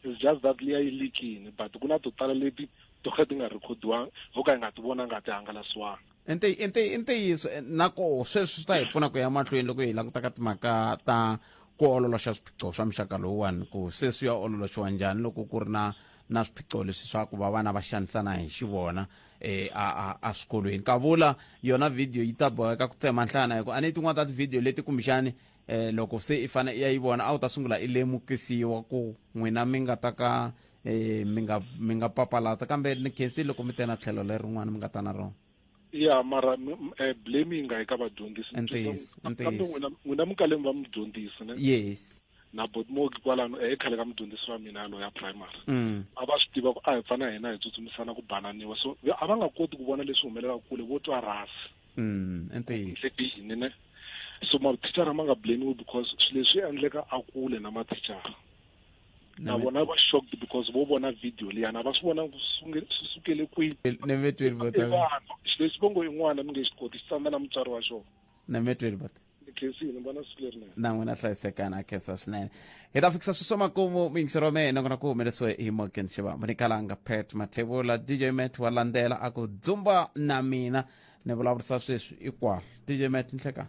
it's just that liya yi likini but ku na to tala leti to ka ti nga rhikhodiwanga ho ka hi nga ti vonanga ti hangalasiwanga ntiyiso eh, nakoho sweswi swi ta hi pfuna ku ya mahlweni loko hi langutaka timhaka ta ku ololoxa swiphiqo swa muxaka lowuwani ku se swi ya ololoxiwa njhani loko ku ri na na swiphiqo leswi swa ku va vana va xanisana hi xivona e a a a swikolweni ka vula yona video yi ta boheka ku tsema nhlana hikuva a ni tin'wana ta tivhidiyo leti kumbexani um loko se i fanele i ya yi vona a wu ta sungula i lemukisiwa ku n'wina mi nga ta ka um mi nga mi nga papalata kambe ni khensi loko mi te na tlhelo lerin'wana mi nga ta na rona ya mara eh, blame yi nga yi ka vadyondzisi kambe n'wina n'wina mukalemi va mi dyondzisi ne yes na botmogi kwalano e khale ka mudyondzisi wa mina loyi ya primary mm. a va swi tiva ku a hi pfana hina hi tsutsumisana ku bananiwa so a va nga koti ku vona leswi humelelaka kule vo twa rasi mm, yini ne so mathicara ma nga blamiwi because swi leswi endleka a kule na mathicara na vona va shocked because vo vona video liyana va swi vona swi sukele kwihi xileswi vongo yin'wana mi nge xi koti xi tsandza na mutswari wa xona na metweni bata ndzi khensini ni vona siku lerinene na n'wina hlayisekana a khensa swinene hi ta fikisa swi swa makumu mingisi ro mehe nakona ku humelesiwe hi morgan xiva munikalanga pet mathevula dj met wa landzela a ku dzumba na mina ni vulavurisa sweswi ikwalo dj met nhlekani